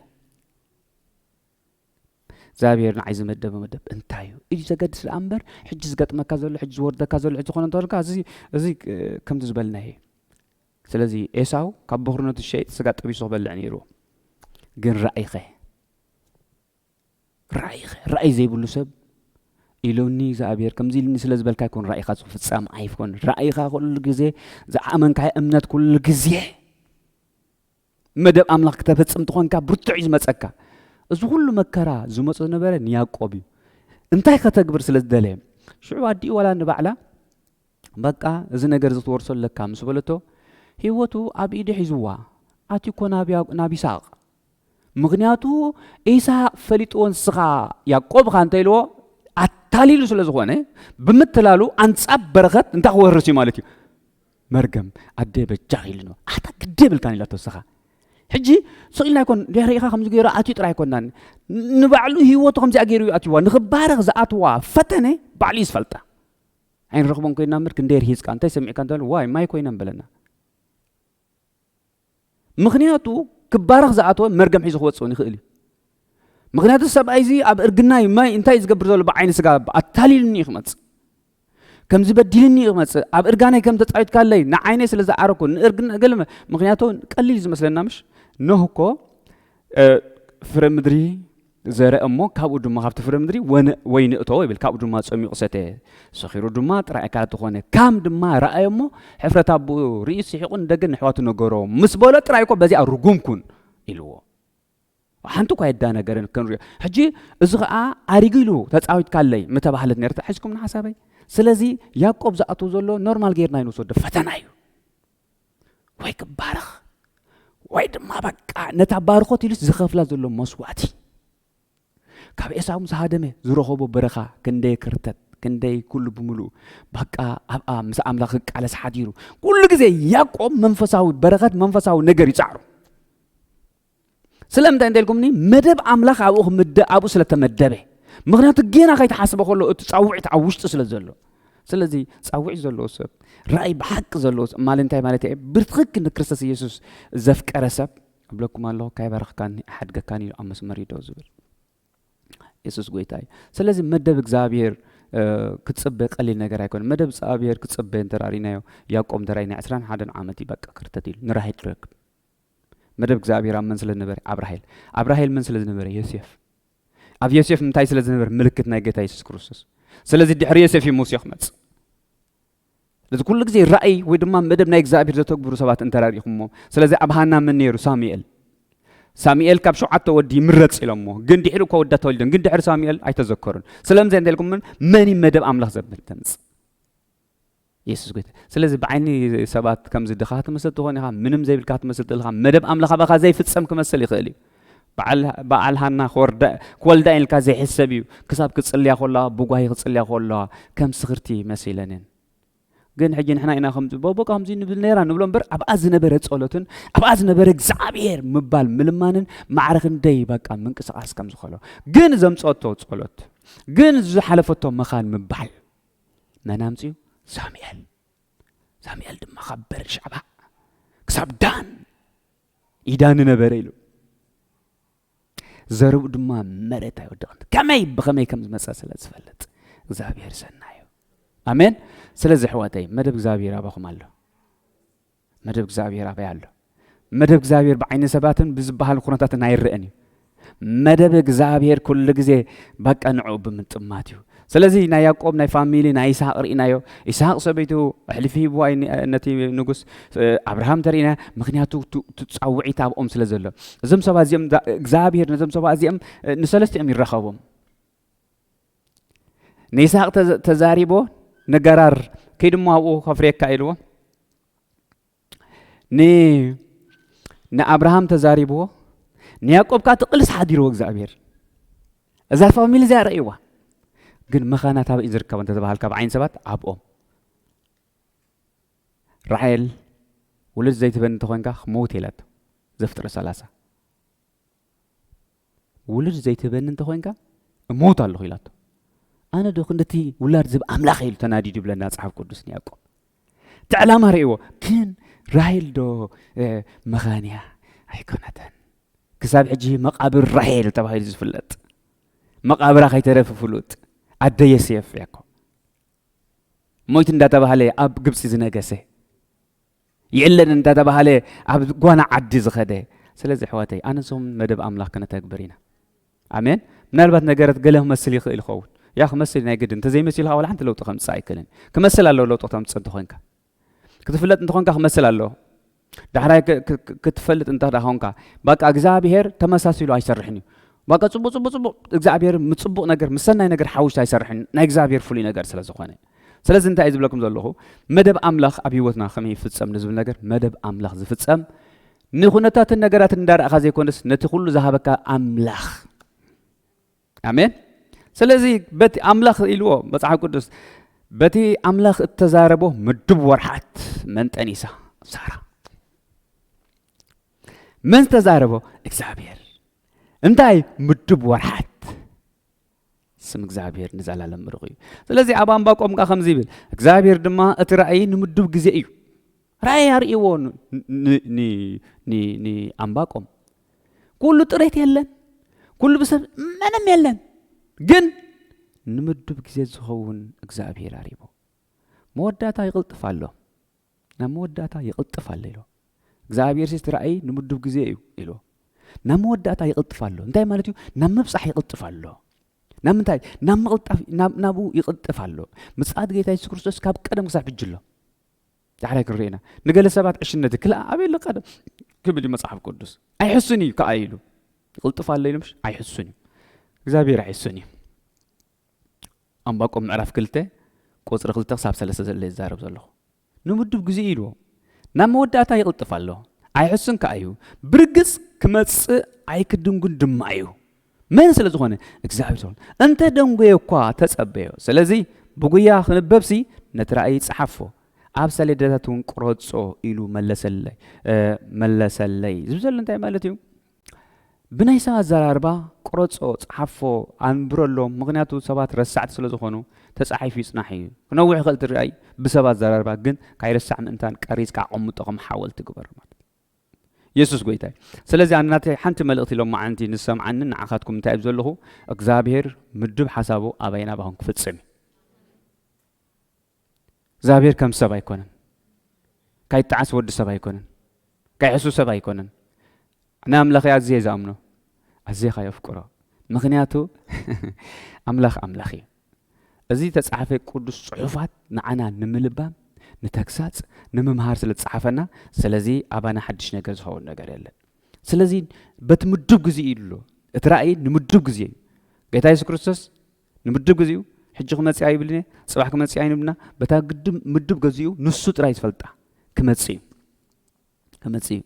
እግዚኣብሔር ንዓይ ዝመደበ መደብ እንታይ እዩ እዩ ዘገድስ ደኣ እምበር ሕጂ ዝገጥመካ ዘሎ ሕጂ ዝወርደካ ዘሎ ሕጂ ዝኾነ እንተበልካ እዚ እዚ ከምቲ ዝበልና እየ ስለዚ ኤሳው ካብ በኽርነቱ ሸይጥ ስጋ ጠቢሱ ክበልዕ ነይሩ ግን ራእይኸ ራእይኸ ራእይ ዘይብሉ ሰብ ኢሎኒ እግዚኣብሔር ከምዚ ኢልኒ ስለ ዝበልካ ይኮን ራእይኻ ዝፍጻም ኣይኮን ራእይኻ ኩሉ ግዜ ዝኣመንካዮ እምነት ኩሉ ግዜ መደብ ኣምላኽ ክተፈጽም ትኾንካ ብርቱዕ እዩ ዝመፀካ እዚ ኩሉ መከራ ዝመፆ ዝነበረ ንያቆብ እዩ እንታይ ከተግብር ስለ ዝደለየ ሽዑ ኣዲኡ ዋላ ንባዕላ በቃ እዚ ነገር ዝትወርሶ ኣለካ ምስ በለቶ ህይወቱ ኣብ ኢዱ ሒዝዋ ኣትዩ እኮ ናብ ይስቅ ምኽንያቱ ኢሳቅ ፈሊጥዎ ንስኻ ያቆብ እኻ እንተ ኢልዎ ኣታሊሉ ስለ ዝኾነ ብምትላሉ ኣንጻብ በረኸት እንታይ ክወርስ እዩ ማለት እዩ መርገም ኣደ በጃኽ ኢሉ ነው ኣታ ግደ ብልካን ኢላቶ ንስኻ ሕጂ ስቕ ኢልና ኣይኮን ሪኢኻ ከምዚ ገይሩ ኣትዩ ጥራይ ኣይኮናን ንባዕሉ ህይወቱ ከምዚኣ ገይሩ እዩ ኣትዋ ንኽባረኽ ዝኣትዋ ፈተነ ባዕሉ እዩ ዝፈልጣ ኣይንረኽቦን ኮይና ምር ክንደይ ርሂፅካ እንታይ ሰሚዕካ እንተ ዋይ ማይ ኮይነን በለና ምኽንያቱ ክባረኽ ዝኣተወ መርገም ሒዙ ክወፅእ እውን ይኽእል እዩ ምክንያቱ ሰብኣይ እዚ ኣብ እርግና እዩ ማይ እንታይ እዩ ዝገብር ዘሎ ብዓይኒ ስጋ ኣታሊልኒ እዩ ክመፅእ ከምዚ በዲልኒ እዩ ክመፅእ ኣብ እርጋነይ ከም ተፃዊትካለይ ንዓይነይ ስለ ዝዓረኩ ንእርግና ገለ ምክንያቱ ቀሊል እዩ ዝመስለና ምሽ ኖህ እኮ ፍረ ምድሪ ዘርእ እሞ ካብኡ ድማ ካብቲ ፍረ ምድሪ ወነ ወይኒ እተወ ይብል ካብኡ ድማ ጸሚቑ ሰተ ሰኺሩ ድማ ጥራይ ኣካላት ዝኾነ ካም ድማ ረኣየ እሞ ሕፍረት ኣቦኡ ርእዩ ስሒቑ ንደገ ንሕዋቱ ነገሮ ምስ በሎ ጥራይ እኮ በዚኣ ርጉም ኩን ኢልዎ ሓንቲ እኳ የዳነገረን ክንሪኦ ሕጂ እዚ ከዓ ኣሪጉ ኢሉ ተፃዊትካለይ ምተባህለት ነርታ ሕዝኩም ንሓሳበይ ስለዚ ያዕቆብ ዝኣትው ዘሎ ኖርማል ጌርና ይንወስዶ ፈተና እዩ ወይ ክባረኽ ወይ ድማ በቃ ነታ ባርኾት ኢሉስ ዝኸፍላ ዘሎ መስዋእቲ ካብ ኤሳው ምስ ሃደመ ዝረኸቦ በረኻ ክንደይ ክርተት ክንደይ ኩሉ ብምሉእ በቃ ኣብኣ ምስ ኣምላኽ ክቃለስ ሓዲሩ ኩሉ ግዜ ያዕቆብ መንፈሳዊ በረኸት መንፈሳዊ ነገር ይፃዕሩ ስለምንታይ እንተልኩምኒ መደብ ኣምላኽ ኣብኡ ክምደ ኣብኡ ስለ ተመደበ ምክንያቱ ጌና ከይተሓስበ ከሎ እቲ ፃውዒት ኣብ ውሽጢ ስለ ዘሎ ስለዚ ፃውዒት ዘለዎ ሰብ ራእይ ብሓቂ ዘለዎ ሰብ ማለት እንታይ ማለት እየ ብትክክል ንክርስቶስ ኢየሱስ ዘፍቀረ ሰብ እብለኩም ኣለኹ ካይበረኽካኒ ኣሓድገካን እዩ ኣብ መስመር ይዶ ዝብል የሱስ ጎይታ እዩ ስለዚ መደብ እግዚኣብሄር ክፅበ ቀሊል ነገር ኣይኮነ መደብ እግዚኣብሄር ክፅበ እንተራሪናዮ ያቆም ተራኢና ዕስራን ሓደን ዓመት እዩ በቃ ክርተት ኢሉ ንራሄድ ረክብ መደብ እግዚኣብሔር ኣብ መን ስለ ዝነበረ ኣብ ራሄል ኣብ ራሄል መን ስለ ዝነበረ ዮሴፍ ኣብ ዮሴፍ እንታይ ስለ ዝነበረ ምልክት ናይ ጌታ የሱስ ክርስቶስ ስለዚ ድሕሪ ዮሴፍ እዩ ሙሴ ክመጽእ ስለዚ ኩሉ ግዜ ራእይ ወይ ድማ መደብ ናይ እግዚኣብሔር ዘተግብሩ ሰባት እንተራሪኹሞ ስለዚ ኣብ ሃና መን ነይሩ ሳሙኤል ሳሙኤል ካብ ሸውዓተ ወዲ ይምረጽ ኢሎሞ ግን ድሕሪ እኳ ወዳ ተወሊዶም ግን ድሕሪ ሳሙኤል ኣይተዘከሩን ስለምዚ እንተ ኢልኩምን መን መደብ ኣምላኽ ዘብል ተምጽእ የሱስ ጎይታ እዩ። ስለዚ ብዓይኒ ሰባት ከምዚ ድኻ ትመስል ትኾን ኢኻ፣ ምንም ዘይብልካ ትመስል ትልኻ፣ መደብ ኣምላኽ ኣባኻ ዘይፍጸም ክመስል ይኽእል እዩ። በዓል ሃና ክወልዳ ኢልካ ዘይሕሰብ እዩ። ክሳብ ክጽልያ ከለዋ ብጓሂ ክጽልያ ከለዋ ከም ስኽርቲ መሲለንን ግን ሕጂ ንሕና ኢና ከም ጽበቦ ከምዚ ንብል ነራ ንብሎ እምበር ኣብኣ ዝነበረ ጸሎትን ኣብኣ ዝነበረ እግዚኣብሔር ምባል ምልማንን ማዕረ ክንደይ በቃ ምንቅስቓስ ከም ዝኸሎ ግን ዘምጸቶ ጸሎት ግን ዝሓለፈቶ መኻን ምባል መን ኣምጺኡ? ሳሙኤል። ሳሙኤል ድማ ካብ በርሻባ ክሳብ ዳን ይዳኒ ነበረ ኢሉ ዘርኡ ድማ መሬት ኣይወደቕን ከመይ ብኸመይ ከም ዝመፀ ስለ ዝፈልጥ እግዚኣብሔር ሰናዩ ኣሜን ስለዚ ሕዋተይ መደብ እግዚኣብሔር ኣባኹም ኣሎ መደብ እግዚኣብሔር ኣበይ ኣሎ? መደብ እግዚኣብሔር ብዓይኒ ሰባትን ብዝበሃል ኩነታትን ኣይረእን እዩ። መደብ እግዚኣብሔር ኩሉ ግዜ በቃ ንዕኡ ብምጥማት እዩ። ስለዚ ናይ ያዕቆብ ናይ ፋሚሊ ናይ ይስሐቅ ርኢናዮ ይስሐቅ ሰበይቱ ሕልፊ ሂብዋ ነቲ ንጉስ ኣብርሃም ተርእና ምክንያቱ ትፃውዒት ኣብኦም ስለ ዘሎ እዞም ሰባት እዚኦም እግዚኣብሔር ነዞም ሰባት እዚኦም ንሰለስቲኦም ይራኸቦም ንይስሃቅ ተዛሪቦ ንገራር ከይድሞ ኣብኡ ከፍርየካ ኢልዎ ንኣብርሃም ተዛሪብዎ ንያቆብ ከዓ ትቕልስ ሓዲርዎ እግዚኣብሔር እዛ ፋሚሊ እዚኣ ረእይዋ ግን መኻና ታበ እዩ ዝርከብ እንተተባሃልካ ብዓይን ሰባት ኣብኦም ራሔል ውልድ ዘይትበን እንተኾንካ ክመውት የላቶ ዘፍጥረ ሰላሳ ውሉድ ዘይትህበኒ እንተኾይንካ እሞውት ኣለኹ ኢላቶ ኣነ ዶ ክንድቲ ውላድ ዝብ ኣምላኽ ኢሉ ተናዲዱ ይብለና ጽሓፍ ቅዱስ ንያቆብ እቲ ዕላማ ርእዎ ግን ራሄል ዶ መኻን እያ ኣይኮነተን ክሳብ ሕጂ መቃብር ራሄል ተባሂሉ ዝፍለጥ መቃብራ ከይተረፍ ፍሉጥ ኣደ የሴፍ እያ እኮ ሞይት እንዳተባህለ ኣብ ግብፂ ዝነገሰ የለን እንዳተባሃለ ኣብ ጓና ዓዲ ዝኸደ ስለዚ ኣሕዋተይ ኣነሶም መደብ ኣምላኽ ክነተግብር ኢና ኣሜን ምናልባት ነገረት ገለ ክመስል ይኽእል ይኸውን ያ ክመስል ናይ ግድን እንተዘይመሲሉ ከዓ ወላ ሓንቲ ለውጢ ከምፅእ ኣይክእልን ክመስል ኣለዎ ለውጢ ክተምፅእ እንተኾንካ ክትፍለጥ እንተኾንካ ክመስል ኣለዎ ዳሕራይ ክትፈልጥ እንተ ኮንካ በቃ እግዚኣብሄር ተመሳሲሉ ኣይሰርሕን እዩ በቃ ፅቡቅ ፅቡቅ ፅቡቅ እግዚኣብሄር ምፅቡቅ ነገር ምሰናይ ነገር ሓዊሱ ኣይሰርሕን ናይ እግዚኣብሄር ፍሉይ ነገር ስለ ዝኾነ ስለዚ እንታይ እየ ዝብለኩም ዘለኹ መደብ ኣምላኽ ኣብ ህይወትና ከመይ ይፍጸም ንዝብል ነገር መደብ ኣምላኽ ዝፍጸም ንኹነታትን ነገራትን እንዳረእኻ ዘይኮነስ ነቲ ኩሉ ዝሃበካ ኣምላኽ ኣሜን ስለዚ በቲ ኣምላኽ ኢልዎ መጽሓፍ ቅዱስ በቲ ኣምላኽ እተዛረቦ ምዱብ ወርሓት መን ጠኒሳ ሳራ መን ዝተዛረቦ እግዚኣብሔር እንታይ ምዱብ ወርሓት ስም እግዚኣብሔር ንዘላለም ምርቕ እዩ ስለዚ ኣብ ኣንባቆም ከ ከምዚ ይብል እግዚኣብሔር ድማ እቲ ራእይ ንምዱብ ግዜ እዩ ራእይ ኣርእይዎ ንኣንባቆም ኩሉ ጥሬት የለን ኩሉ ብሰብ ምንም የለን ግን ንምዱብ ግዜ ዝኸውን እግዚኣብሔር ኣሪቦ መወዳእታ ይቕልጥፍ ኣሎ ናብ መወዳእታ ይቕልጥፍ ኣሎ ኢሎ እግዚኣብሔርሲ እቲ ራእይ ንምዱብ ግዜ እዩ ኢሎ ናብ መወዳእታ ይቕልጥፍ ኣሎ እንታይ ማለት እዩ ናብ ምብፃሕ ይቕልጥፍ ኣሎ ናብ ምንታይ ናብ ምቕልጣፍ ናብኡ ይቕልጥፍ ኣሎ ምፅኣት ጌታ የሱስ ክርስቶስ ካብ ቀደም ክሳብ ሕጂ ኣሎ ዳሕራይ ክንሪኦ ኢና ንገለ ሰባት ዕሽነት ክልኣ ኣበይ ኣሎ ቀደም ክብል እዩ መፅሓፍ ቅዱስ ኣይሕሱን እዩ ከዓ ኢሉ ይቕልጥፍ ኣሎ ኢሉ ምሽ ኣይሕሱን እዩ እግዚኣብሔር ኣይሕሱን እዩ ኣንባቆም ምዕራፍ ክልተ ቁጽሪ ክልተ ክሳብ ሰለስተ ዘሎ እየ ዝዛረብ ዘለኹ። ንምዱብ ግዜኡ ኢልዎ ናብ መወዳእታ ይቕልጥፍ ኣሎ። ኣይሕሱን ከኣ እዩ። ብርግጽ ክመጽእ ኣይክድንጉን ድማ እዩ። መን ስለ ዝኾነ እግዚኣብሔር ዝኾነ እንተ ደንጎየ እኳ ተጸበዮ። ስለዚ ብጉያ ክንበብሲ ነቲ ራእይ ጸሓፎ ኣብ ሰሌዳታት እውን ቁረጾ ኢሉ መለሰለይ መለሰለይ ዝብ ዘሎ እንታይ ማለት እዩ? ብናይ ሰብ ኣዘራርባ ቁረጾ ጽሓፎ ኣንብረሎም ምኽንያቱ ሰባት ረሳዕቲ ስለ ዝኾኑ ተጻሒፉ ይጽናሕ ኢዩ ክነውሕ ይኽእል እቲ ርኣይ ብሰብ ኣዘራርባ ግን ካይርሳዕ ምእንታን ቀሪጽካ ኣቐምጦ ከም ሓወልቲ ግበሮ ማለት የሱስ ጎይታ እዩ ስለዚ ኣነ ናተይ ሓንቲ መልእኽቲ ሎማዓንቲ ንሰምዓኒ ንዓኻትኩም እንታይ እብ ዘለኹ እግዚኣብሄር ምዱብ ሓሳቡ ኣባይን ኣባኹም ክፍጽም እዩ እግዚኣብሔር ከም ሰብ ኣይኮነን ካይጣዓስ ወዲ ሰብ ኣይኮነን ካይሕሱ ሰብ ኣይኮነን ናይ ኣምላኸይ ኣዝየ ዝኣምኖ ኣዝየ ካየፍቅሮ ምክንያቱ ኣምላኽ ኣምላኽ እዩ እዚ ተጻሓፈ ቅዱስ ጽሑፋት ንዓና ንምልባም ንተግሳጽ ንምምሃር ስለ ዝጸሓፈና ስለዚ ኣባና ሓድሽ ነገር ዝኸውን ነገር የለን ስለዚ በቲ ምዱብ ግዜ እዩ ኣሎ እቲ ራእይ ንምዱብ ግዜ እዩ ጌታ የሱስ ክርስቶስ ንምድብ ግዚኡ ሕጂ ክመጽእ ኣይብልን እየ ጽባሕ ክመጽእ ኣይንብልና በታ ግድም ምድብ ገዚኡ ንሱ ጥራይ ዝፈልጣ ክመጽእ እዩ ክመጽእ እዩ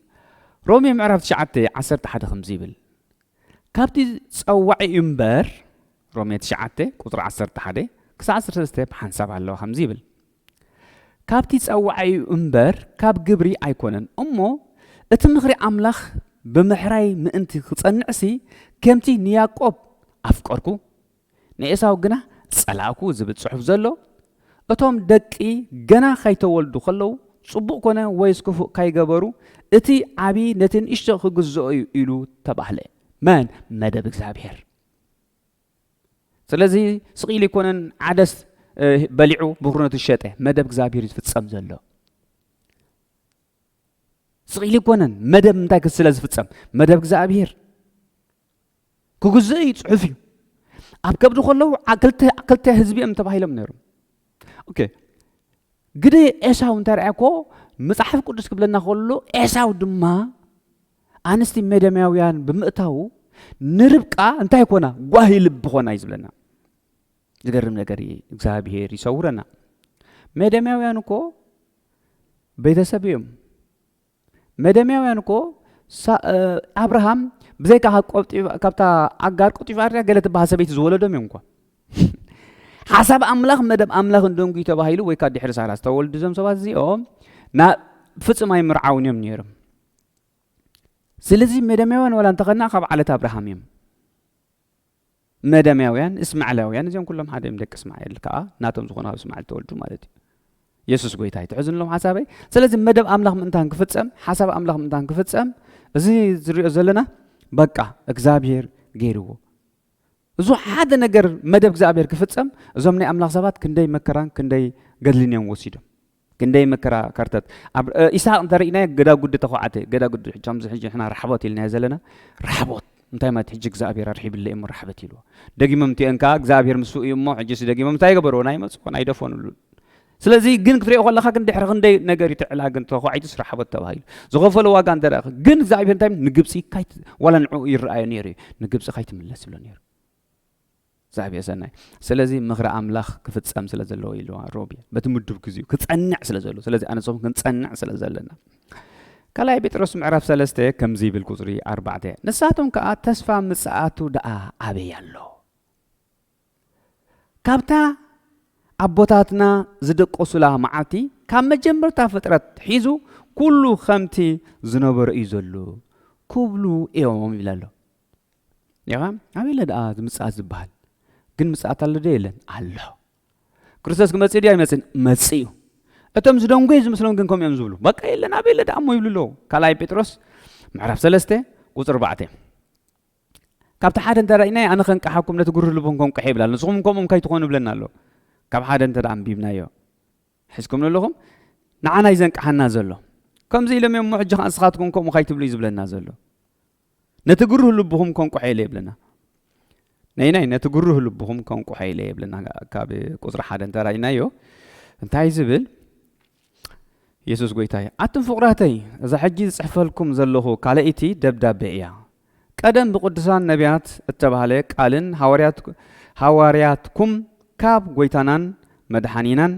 ሮሜ ምዕራፍ 9 11 ከምዚ ይብል ካብቲ ጸዋዒ እምበር ሮሜ 9 ቁጽሪ 11 ክሳዕ 13 ብሓንሳብ ኣለዋ ከምዚ ይብል ካብቲ ጸዋዒ እዩ እምበር ካብ ግብሪ ኣይኮነን እሞ እቲ ምኽሪ ኣምላኽ ብምሕራይ ምእንቲ ክጸንዕሲ ከምቲ ንያቆብ ኣፍቀርኩ ንኤሳው ግና ጸላእኩ ዝብል ጽሑፍ ዘሎ እቶም ደቂ ገና ካይተወልዱ ከለዉ ጽቡቕ ኮነ ወይስ ክፉእ ካይገበሩ እቲ ዓቢ ነቲ ንእሽቶ ክግዝኦ እዩ ኢሉ ተባህለ መን መደብ እግዚኣብሔር ስለዚ ስቂል ይኮነን ዓደስ በሊዑ ብኩርነቱ ሸጠ መደብ እግዚኣብሔር ዝፍጸም ዘሎ ስቂል ይኮነን መደብ እንታይ ክስለ ዝፍጸም መደብ እግዚኣብሔር ክግዝእ እዩ ፅሑፍ እዩ ኣብ ከብዲ ከለዉ ክልተ ህዝቢ እዮም ተባሂሎም ነይሮም ኦኬ ግደ ኤሳው እንተርኣ ኮ መጽሓፍ ቅዱስ ክብለና ከሎ ኤሳው ድማ ኣንስቲ ሜደምያውያን ብምእታው ንርብቃ እንታይ ኮና ጓሂ ልቢ ኮና እዩ ዝብለና ዝገርም ነገር እዩ እግዚኣብሄር ይሰውረና ሜደምያውያን እኮ ቤተሰብ እዮም መደምያውያን እኮ ኣብርሃም ብዘይካ ካብታ ኣጋር ቆጢፋ ኣርያ ገለ ትበሃል ሰበይቲ ዝወለዶም እዮም እኳ ሓሳብ ኣምላኽ መደብ ኣምላኽ እንደንጉ ተባሂሉ ወይ ካብ ድሕሪ ሳራ ዝተወልዱ እዞም ሰባት እዚኦም ናብ ፍጹም ኣይምርዓውን እዮም ነይሮም ስለዚ መደምያውያን ዋላ እንተኸና ካብ ዓለት ኣብርሃም እዮም መደምያውያን እስማዕላውያን እዚኦም ኩሎም ሓደ እዮም ደቂ እስማኤል ከዓ ናቶም ዝኾኑ ኣብ እስማኤል ተወልዱ ማለት እዩ የሱስ ጎይታ እዩ ትሕዝንሎም ሓሳበይ ስለዚ መደብ ኣምላኽ ምእንታን ክፍፀም ሓሳብ ኣምላኽ ምእንታን ክፍፀም እዚ ዝሪኦ ዘለና በቃ እግዚኣብሄር ገይርዎ እዙ ሓደ ነገር መደብ እግዚኣብሄር ክፍፀም እዞም ናይ ኣምላኽ ሰባት ክንደይ መከራን ክንደይ ገድልን እዮም ወሲዶም ክንደይ መከራ ከርተት ኣብ ኢሳቅ እንተሪእናዮ ገዳጉዲ ተኳዓተ ገዳጉዲ ከምዚ ሕጂ ንሕና ራሕቦት ኢልናዮ ዘለና ራሕቦት እንታይ ማለት ሕጂ እግዚኣብሔር ኣርሒብለ እሞ ራሕበት ኢልዎ ደጊሞም እቲኦን ከዓ እግዚኣብሔር ምስኡ እዩ እሞ ሕጂስ ደጊሞም እንታይ ገበርዎ ናይ መፅዎን ኣይደፈኑሉን ስለዚ ግን ክትሪኦ ከለካ ግን ድሕሪ ክንደይ ነገር ይትዕላ ግን ተኳዒቱስ ራሕቦት ተባሂሉ ዝኸፈሎ ዋጋ እንተ ግን እግዚኣብሔር እንታይ ንግብፂ ዋላ ንዕኡ ይረኣዮ ነይሩ እዩ ንግብፂ ካይትምለስ ይብሎ ነይሩ ዛግየ ሰናይ ስለዚ ምኽሪ ኣምላኽ ክፍጸም ስለ ዘለዎ ኢልዋ ሮቢ በቲ ምዱብ ግዜኡ ክጸንዕ ስለ ዘለዎ ስለዚ ኣነ ንስኹም ክንጸንዕ ስለ ዘለና ካልኣይ ጴጥሮስ ምዕራፍ ሰለስተ ከምዚ ይብል ቁጽሪ ኣርባዕተ ንሳቶም ከኣ ተስፋ ምጽኣቱ ደኣ ኣበይ ኣሎ ካብታ ኣቦታትና ዝደቀሱላ መዓልቲ ካብ መጀመርታ ፍጥረት ሒዙ ኩሉ ከምቲ ዝነበረ እዩ ዘሎ ክብሉ እዮም ይብል ኣሎ ኔኻ ኣበይ ኣለ ደኣ ምጽኣት ዝበሃል ግን ምጽኣት ኣሎ ዶ የለን ኣሎ ክርስቶስ ክመጽእ ድዩ ኣይመጽእን መጽእ እዩ እቶም ዝደንጎዩ ዝምስሎም ግን ከምኡ እዮም ዝብሉ በቃ የለን ኣበይ ኣለ ደኣ እሞ ይብሉ ኣለዉ ካልኣይ ጴጥሮስ ምዕራፍ ሰለስተ ቁፅሪ ኣርባዕተ ካብቲ ሓደ እንተ ርእናዮ ኣነ ከንቅሓኩም ነቲ ግሩህ ልቦም ከንቅሐ ይብላ ኣሎ ንስኹም ከምኡም ከይትኾኑ ይብለና ኣሎ ካብ ሓደ እንተ ኣንቢብናዮ ሕዝኩም ኣለኹም ንዓና እዩ ዘንቅሓና ዘሎ ከምዚ ኢሎም እዮም ሞ ሕጂ ከዓ ንስኻትኩም ከምኡ ከይትብሉ እዩ ዝብለና ዘሎ ነቲ ግሩህ ልብኹም ከንቁሐ ኢለ የብለና ነይናይ ነቲ ግሩህ ልብኹም ከንቁሐ ኢለ የብለና ካብ ቁፅሪ ሓደ እንተራእናዮ እንታይ ዝብል የሱስ ጎይታ እዩ ኣቱም ፍቕራተይ እዛ ሕጂ ዝፅሕፈልኩም ዘለኹ ካልኣይቲ ደብዳቤ እያ ቀደም ብቅዱሳን ነቢያት እተባህለ ቃልን ሃዋርያትኩም ካብ ጎይታናን መድሓኒናን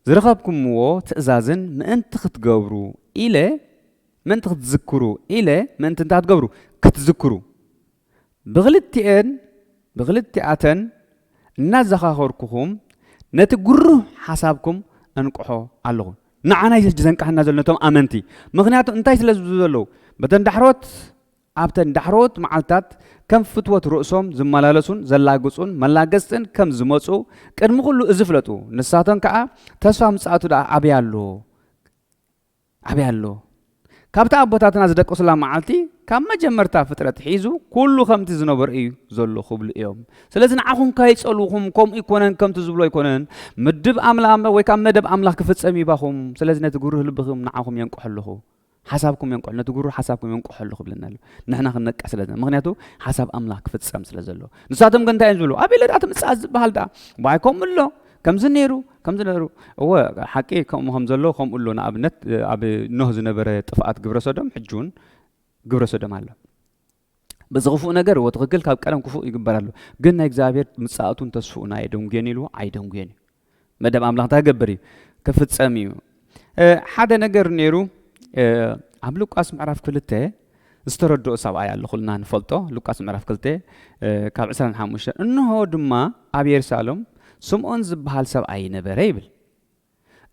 ዝረኸብኩምዎ ትእዛዝን ምእንቲ ኽትገብሩ ኢለ፣ ምእንቲ ኽትዝክሩ ኢለ፣ ምእንቲ እንታይ ኽትገብሩ? ክትዝክሩ፣ ብኽልቲኤን፣ ብኽልቲኣተን እናዘኻኸርኩኹም፣ ነቲ ግሩህ ሓሳብኩም እንቅሖ ኣሎኹ። ንዓና እዩ ሕጂ ዘንቅሓና ዘሎ፣ ነቶም ኣመንቲ። ምኽንያቱ እንታይ ስለ ዝብሉ ዘለዉ? በተን ዳሕሮት ኣብተን ዳሕረዎት መዓልትታት ከም ፍትወት ርእሶም ዝመላለሱን ዘላግጹን መላገጽትን ከም ዝመጹ ቅድሚ ኩሉ እዚ ፍለጡ፣ ንሳቶን ከኣ ተስፋ ምጽኣቱ ደኣ ኣበይ ኣሎ? ኣበይ ኣሎ? ካብታ ኣቦታትና ዝደቀሱላ መዓልቲ ካብ መጀመርታ ፍጥረት ሒዙ ኩሉ ከምቲ ዝነበሮ እዩ ዘሎ ክብሉ እዮም። ስለዚ ንዓኹም ካይጸልውኹም ከምኡ ኣይኮነን ከምቲ ዝብሎ ኣይኮነን ምድብ ኣምላ ወይ ካብ መደብ ኣምላኽ ክፍጸም ይባኹም። ስለዚ ነቲ ግሩህ ልብኹም ንዓኹም የንቅሖ ኣለኹ። ሓሳብኩም የንቅሑ ነቲ ጉሩ ሓሳብኩም የንቅሖሉ ክብለና ኣሎ ንሕና ክንነቅሕ ስለ ዘለና ምክንያቱ ሓሳብ ኣምላኽ ክፍጸም ስለ ዘሎ ንሳቶም ግን እንታይ እዮም ዝብሉ ኣበለ ደኣ ትምጽኣት ዝበሃል ደኣ ባይ ከምኡ ኣሎ ከምዚ ነይሩ ከምዚ ነይሩ እወ ሓቂ ከምኡ ከም ዘሎ ከምኡ ኣሎ ንኣብነት ኣብ ኖህ ዝነበረ ጥፍኣት ግብረ ሶዶም ሕጂ እውን ግብረ ሶዶም ኣሎ በዚ ክፉእ ነገር እዎ ትኽክል ካብ ቀደም ክፉእ ይግበር ኣሎ ግን ናይ እግዚኣብሔር ምጽኣቱን ተስፍኡን ኣየደንጉየን ኢልዎ ኣይደንጉየን እዩ መደብ ኣምላኽ እንታይ ገብር እዩ ክፍጸም እዩ ሓደ ነገር ነይሩ ኣብ ሉቃስ ምዕራፍ ክልተ ዝተረድኦ ሰብኣይ ኣሎ ኩልና ንፈልጦ ሉቃስ ምዕራፍ ክልተ ካብ 25 እንሆ ድማ ኣብ የሩሳሌም ስምዖን ዝበሃል ሰብኣይ ነበረ ይብል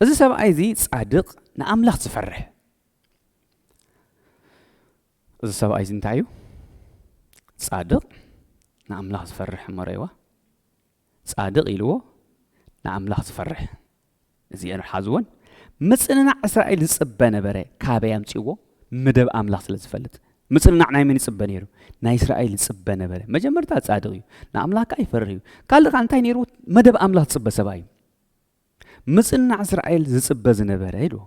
እዚ ሰብኣይ እዚ ጻድቕ ንኣምላኽ ዝፈርሕ እዚ ሰብኣይ እዚ እንታይ እዩ ጻድቅ ንኣምላኽ ዝፈርሕ እሞ ረይዋ ጻድቅ ኢልዎ ንኣምላኽ ዝፈርሕ እዚኤን ሓዝወን ምጽንናዕ እስራኤል ዝጽበ ነበረ ካበይ ኣምጽዎ መደብ ኣምላኽ ስለ ዝፈልጥ ምጽንናዕ ናይ መን ይጽበ ነይሩ ናይ እስራኤል ይጽበ ነበረ መጀመርታ ጻድቕ እዩ ንኣምላኽ ከዓ ይፈርህ እዩ ካልእ ከዓ እንታይ ነይሩ መደብ ኣምላኽ ዝጽበ ሰባ እዩ ምጽንናዕ እስራኤል ዝጽበ ዝነበረ ኢልዎ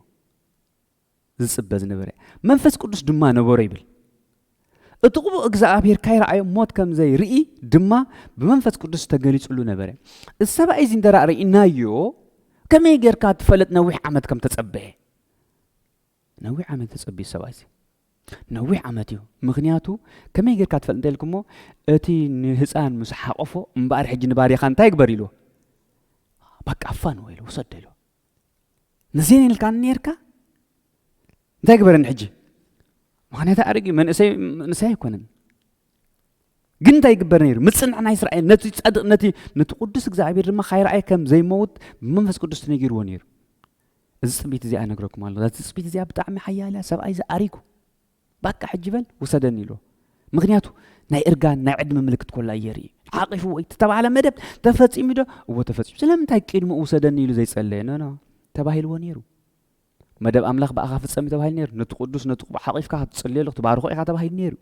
ዝጽበ ዝነበረ መንፈስ ቅዱስ ድማ ነበሮ ይብል እቲ ቅቡእ እግዚኣብሔር ካይረኣዮ ሞት ከም ዘይርኢ ድማ ብመንፈስ ቅዱስ ተገሊጹሉ ነበረ እዚ ሰብኣይ እዚ እንተ ርኢናዮ ከመይ ጌርካ ትፈለጥ ነዊሕ ዓመት ከም ተጸበየ ነዊሕ ዓመት ተጸብዩ ሰብኣይ እዚ ነዊሕ ዓመት እዩ ምክንያቱ ከመይ ጌርካ ትፈልጥ እንተ ኢልኩሞ እቲ ንህፃን ምስ ሓቆፎ እምበኣር ሕጂ ንባርያኻ እንታይ ግበር ኢልዎ በቃ ኣፋን ወይ ውሰደ ኢልዎ ነዘን ኢልካን ነርካ እንታይ ግበረኒ ሕጂ ምክንያት ኣድርግ መንእሰይ መንእሰይ ኣይኮነን ግን እንታይ ይግበር ነይሩ ምፅንዕ ናይ እስራኤል ነቲ ፀድቅ ነቲ ነቲ ቅዱስ እግዚኣብሔር ድማ ካይረኣየ ከም ዘይመውት ብመንፈስ ቅዱስ ተነጊርዎ ነይሩ እዚ ፅቢት እዚኣ ነግረኩም ኣሎ እዛ ፅቢት እዚኣ ብጣዕሚ ሓያል እያ ሰብኣይ ዝኣሪኩ ባቃ ሕጂ በል ውሰደኒ ኢልዎ ምክንያቱ ናይ እርጋን ናይ ዕድመ ምልክት ኮላ የርኢ ሓቂፉ ወይ ዝተባህለ መደብ ተፈፂሙ ዶ እዎ ተፈፂሙ ስለምንታይ ቅድሚ ውሰደኒ ኢሉ ዘይፀለየ ኖኖ ተባሂልዎ ነይሩ መደብ ኣምላኽ ብኣኻ ፍፀም ተባሂሉ ነይሩ ነቲ ቅዱስ ነቲ ቅቡዕ ሓቂፍካ ክትፅልየሉ ክትባርኾ ኢኻ ተባሂሉ ነይሩ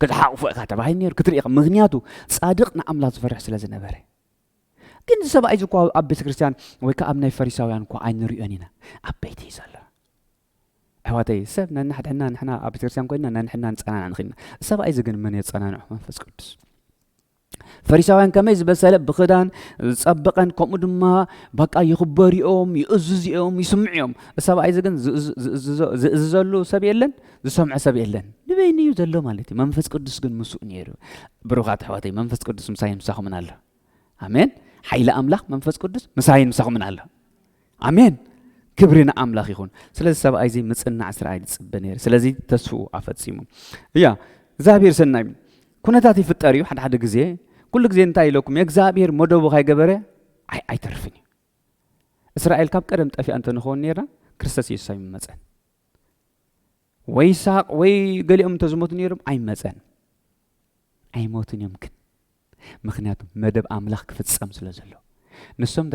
ክትሓቕፎ ኢኻ ተባሂሉ ነይሩ ክትርኢ ኢኻ ምክንያቱ ፃድቕ ንኣምላኽ ዝፈርሕ ስለ ዝነበረ ግን እዚ ሰብኣይ እዚ እኳ ኣብ ቤተ ክርስቲያን ወይ ከዓ ኣብ ናይ ፈሪሳውያን እኳ ኣይንሪኦን ኢና ኣብ ቤት እዩ ዘሎ ኣሕዋተይ ሰብ ነንሕድሕና ንሕና ኣብ ቤተክርስትያን ኮይና ነንሕድና ንጸናናዕ ንኽኢልና ሰብኣይ እዚ ግን መን የጸናንዑ መንፈስ ቅዱስ ፈሪሳውያን ከመይ ዝበሰለ ብክዳን ዝጸበቐን ከምኡ ድማ በቃ ይኽበሩ እዮም ይእዝዙ እዮም ይስምዑ እዮም ሰብኣይ እዚ ግን ዝእዝዘሉ ሰብ የለን ዝሰምዐ ሰብ የለን ንበይኑ እዩ ዘሎ ማለት እዩ መንፈስ ቅዱስ ግን ምስኡ ነይሩ ብሩኻት ኣሕዋተይ መንፈስ ቅዱስ ምሳይ ምሳኹምን ኣሎ ኣሜን ሓይሊ ኣምላኽ መንፈስ ቅዱስ ምሳይን ምሳኹምን ኣሎ ኣሜን ክብሪ ንኣምላኽ ይኹን ስለዚ ሰብኣይ እዚ ምፅናዕ እስራኤል ይፅበ ነይሩ ስለዚ ተስፍኡ ኣፈፂሙ እያ እግዚኣብሔር ሰናይ ኩነታት ይፍጠር እዩ ሓደ ሓደ ግዜ ኩሉ ግዜ እንታይ ኢለኩም እግዚኣብሔር መደቡ ካይገበረ ኣይተርፍን እዩ እስራኤል ካብ ቀደም ጠፊኣ እንተንኸውን ነርና ክርስቶስ የሱስ ኣይምመፀን ወይ ይስሐቅ ወይ ገሊኦም እንተዝሞቱ ነይሮም ኣይመፀን ኣይሞቱን እዮም ግን ምኽንያቱ መደብ ኣምላኽ ክፍጸም ስለ ዘሎ። ንሶም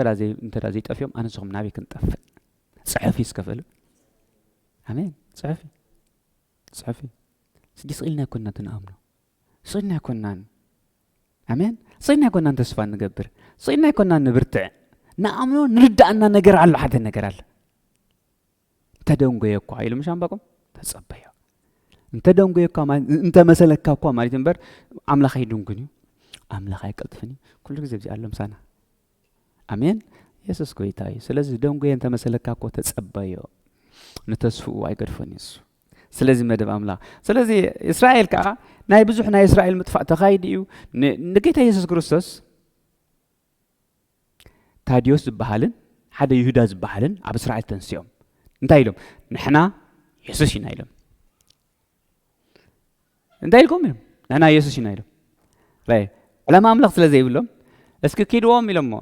እንተ ዘይጠፍዮም ኣነ ንስኹም ናበይ ክንጠፍእ? ጽሑፍ እዩ ዝከፍእሉ። ኣሜን። ጽሑፍ እዩ ጽሑፍ እዩ ስዲ ስኢልና ኣይኮንና ትንኣምኖ ስኢልና ኣይኮንናን ኣሜን ስኢልና ኣይኮንናን ተስፋ ንገብር ስኢልና ኣይኮንናን ንብርትዕ ንኣምኖ ንርዳእና ነገር ኣሎ ሓደ ነገር ኣሎ እንተደንጎየ እኳ ኢሉ ምሽ ኣንባቆም ተጸበዮ እንተደንጎየ እኳ እንተመሰለካ እኳ ማለት እምበር ኣምላኽ ኣይድንጉን እዩ ኣምላኽ ኣይቀልጥፍን እዩ ኩሉ ግዜ ብዚ ኣሎ ምሳና ኣሜን የሱስ ጎይታ እዩ ስለዚ ደንጎየ እንተመሰለካ እኮ ተጸበዮ ንተስፍኡ ኣይገድፎን እዩ እሱ ስለዚ መደብ ኣምላኽ ስለዚ እስራኤል ከዓ ናይ ብዙሕ ናይ እስራኤል ምጥፋእ ተኻይዱ እዩ ንጌታ የሱስ ክርስቶስ ታድዮስ ዝበሃልን ሓደ ይሁዳ ዝበሃልን ኣብ እስራኤል ተንሲኦም እንታይ ኢሎም ንሕና የሱስ ኢና ኢሎም እንታይ ኢልኩም ኢሎም ንሕና የሱስ ኢና ኢሎም ራይ ዕላማ ኣምላኽ ስለ ዘይብሎም እስኪ ኪድዎም ኢሎሞ